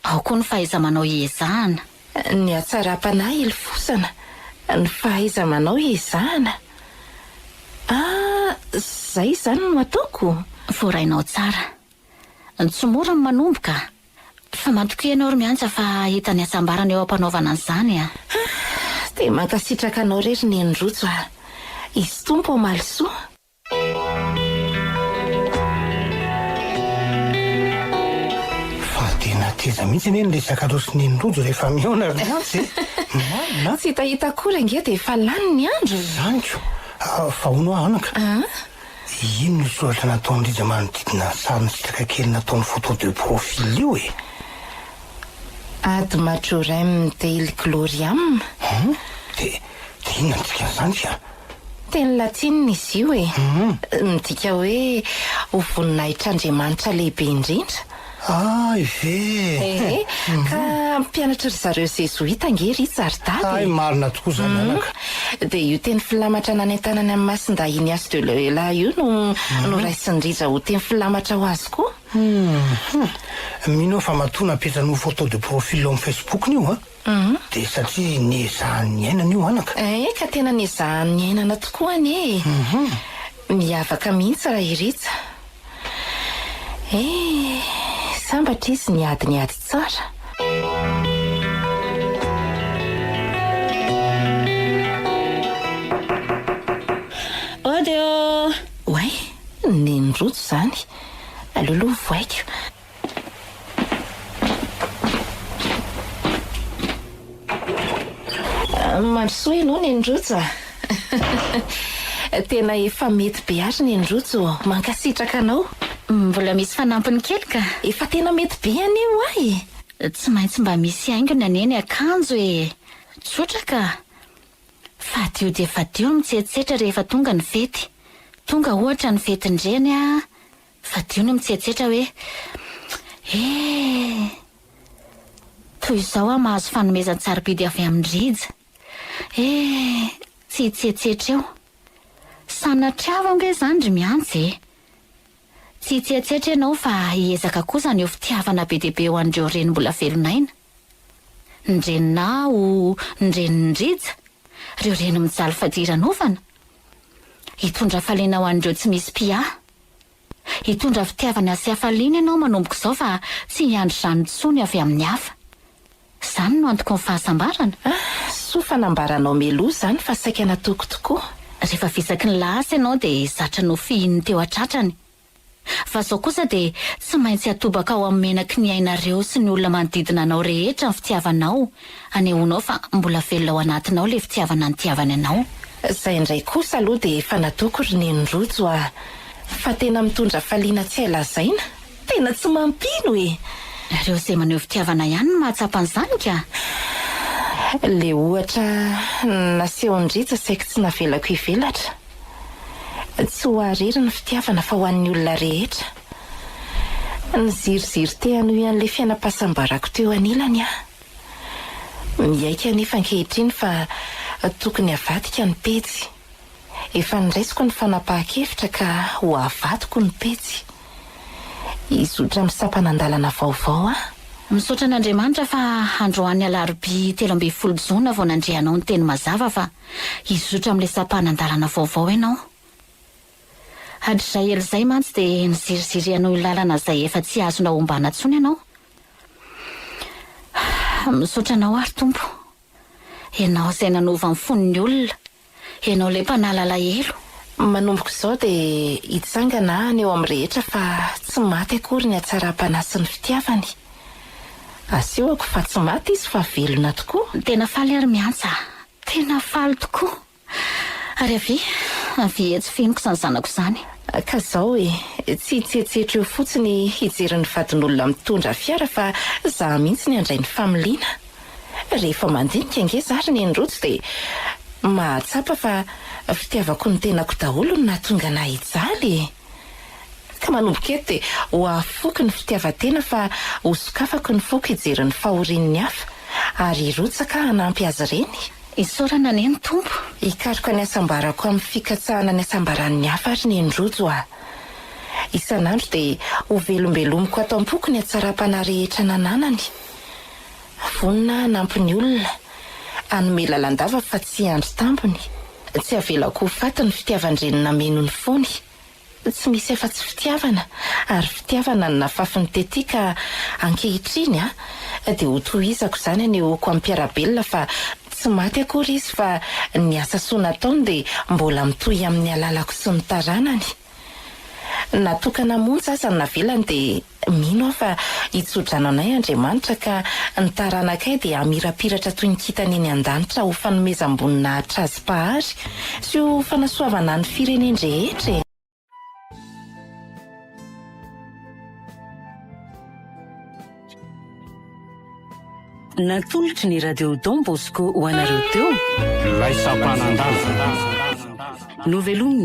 B: Ao koa ny fahaiza-manao hiezahana. Ny
E: hatsaram-panahy hilofosana, ny fahaiza-manao hiezahana. Ah, izay izany no ataoko? Voarainao tsara.
B: Tsy mora ny manomboka. Fa matokia ianao ry Miantsa fa hahita ny hasambarana eo ampanaovana an'izany a. Dia
E: mankasitraka anao re ry Neny Rojo a. Izy Tompo hamaly soa.
D: Fa dia na teza mihitsy anie ny resaka rojo sy Neny Rojo rehefa mihaona ry Miantsa e. Marina a. Tsy hitahita akory
E: ange dia efa lany ny andro e. Izany ko.
D: Fa hono ho'a anaka. Ino io soratra nataon'i Rija manodidina ny sary misitraka kely nataony photo de profil io e?
E: Ad majorem dei gloriam? Hum? De
D: de inona ny dikan'izany ka? Teny latina
E: izy io e. Midika hoe ho voninahitr'Andriamanitra lehibe indrindra. Hay ve
D: eh! Ka mpianatry
E: ry zareo zezoita ange ry Ritsaridady e! Hay marina tokoa izany
D: anaka. Hum, dia io teny
E: filamatra nanentanany an'i Masindahy Ignace de Loyola io no noraisin'i Rija ho teny filamatra ho azy koa. Hum,
D: hum. Mino aho fa matoa napetrany ho photo de profil ao amin'ny Facebook-ny io an! Dia satria niezahany niainana io anaka. Ee ka tena niezahany
E: niainana tokoa anie e! Miavaka mihitsy Rairitsy. Ee, sambatra izy niady ny ady tsara.
B: Ody ô! Oay,
E: nen'i Rojo izany. Aleo aloha ho vaiko. Mandrosoa ianao Nenirotso a! Tena efa mety be ary Nenirotso ô! Mankasitraka anao! Mbola misy
B: fanampiny kely ka! Efa tena mety be
E: anie io ahy e! Tsy maintsy mba
B: misy haingony anie ny akanjo e! Tsotra ka! Fadio dia fadio ny mitsetsetra rehefa tonga ny fety. Tonga ohatra ny fetin-dreny a! Fadio ny mitsetsetra hoe, Eh! Toy izao aho mahazo fanomezan-tsarobidy avy amin'i Rija. Eh! Tsy hitsetsetra eo. Sanatria va ange izany ry Mianjy e? Tsy hitsetsetra ianao fa hiezaka kosa ny ho fitiavana be dia be ho an'ireo reny mbola velon'aina. Ny reninà ho ny renin'i Rija, ireo reny mijaly fadiranovana. Hitondra hafaliana ho an'ireo tsy misy mpiahy. Hitondra fitiavana sy hafaliana ianao manomboka izao fa tsy hiandry izany intsony avy amin'ny hafa. Izany no antoko ny fahasambarana. Ah, soa fa
E: nambaranao meloha izany fa saika natoako tokoa. Rehefa visaky ny
B: lahasa ianao dia zatra nofihininy teo an-tratrany. Fa zao kosa dia tsy maintsy atobaka ao amin'ny menaky ny ainareo sy ny olona manodidina anao rehetra ny fitiavanao, anehoanao fa mbola velona ao anatinao ilay fitiavana nitiavany anao. Zay ndray kosa
E: aloha dia efa nataoko ry neny rojo a! Fa tena mitondra hafaliana tsy hay lazaina, tena tsy mampino e! Nareo izay maneho
B: fitiavana ihany no mahatsapa an'izany ka!
E: Ilay ohatra nasehon-dRija saiky tsy navelako hivelatra. Tsy ho ahy irery ny fitiavana fa ho an'ny olona rehetra. Niziriziry te hanohy an'ilay fiainam-pahasambarako teo anilany aho. Miaiky anefa ankehitriny fa tokony havadika ny pejy. Efa noraisiko ny fanapahan-kevitra ka ho avadiko ny pejy. Hizotra amin'ny sampanan-dalana vaovao aho. Misaotra an'Andriamanitra
B: fa androany alarobia telo ambin'ny folo jona vao nandre anao niteny mazava fa. hizotra amin'ilay sampanan-dalana vaovao ianao. Hatrizay ela izay mantsy dia niziriziry hanohy ny lalana izay efa tsy azonao ombana intsony ianao. Misaotra Anao àry, Tompo. Ianao izay nanova ny fon'ny olona. Ianao ilay Mpanala alahelo. Manomboka izao
E: dia hitsangana aho any eo amin'ny rehetra fa tsy maty akory ny hatsaram-panahy sy ny fitiavany. Asehoko fa tsy maty izy fa velona tokoa. Tena faly ary miantsa
B: aho. Tena faly tokoa. Ary avia, avia etsy fenoko izany zanako izany. Ka izao e,
E: tsy hitsetsetra eo fotsiny hijery ny vadin'olona mitondra fiara fa izaho mihitsy ny handray ny familiana. Rehefa mandinika ange izaho ry neny rojo dia mahatsapa fa fitiavako ny tenako daholo no nahatonga anahy hijaly e! Ka manomboka eto dia ho afoiko ny fitiavan-tena fa ho sokafako ny foko hijery ny fahorian'ny hafa ary hirotsaka hanampy azy ireny. Isaorana anie ny
B: Tompo. Hikaroka ny
E: hasambarako amin'ny fikatsahana ny hasambaran'ny hafa ary ny an-drojo aho. Isan'andro dia hovelombelomiko ato am-poko ny hatsaram-panahy rehetra nananany. Vonona hanampy ny olona, hanome lalandava fa tsy hiandry tambiny, tsy havelako ho faty ny fitiavan-dreniny nameno ny fony. Tsy misy afa-tsy fitiavana ary fitiavana no nafafy ny tetika ka ankehitriny a, dia ho tohizako izany anehoako amin'i Mpiarabelona fa tsy maty akory izy fa ny asa soa nataony dia mbola mitohy amin'ny alalako sy ny taranany. Na tokana monja aza no navelany dia mino aho fa hitso-drano anay Andriamanitra ka ny taranakay dia hamirapiratra toy ny kintana eny an-danitra ho fanomezam-boninahitra Azy Mpahary sy ho fanasoavana ny firenen-drehetra e!
A: Natolotry ny Radio Don Bosco ho anareo teo, Ilay Sampanan-dava. Novelomin'ny.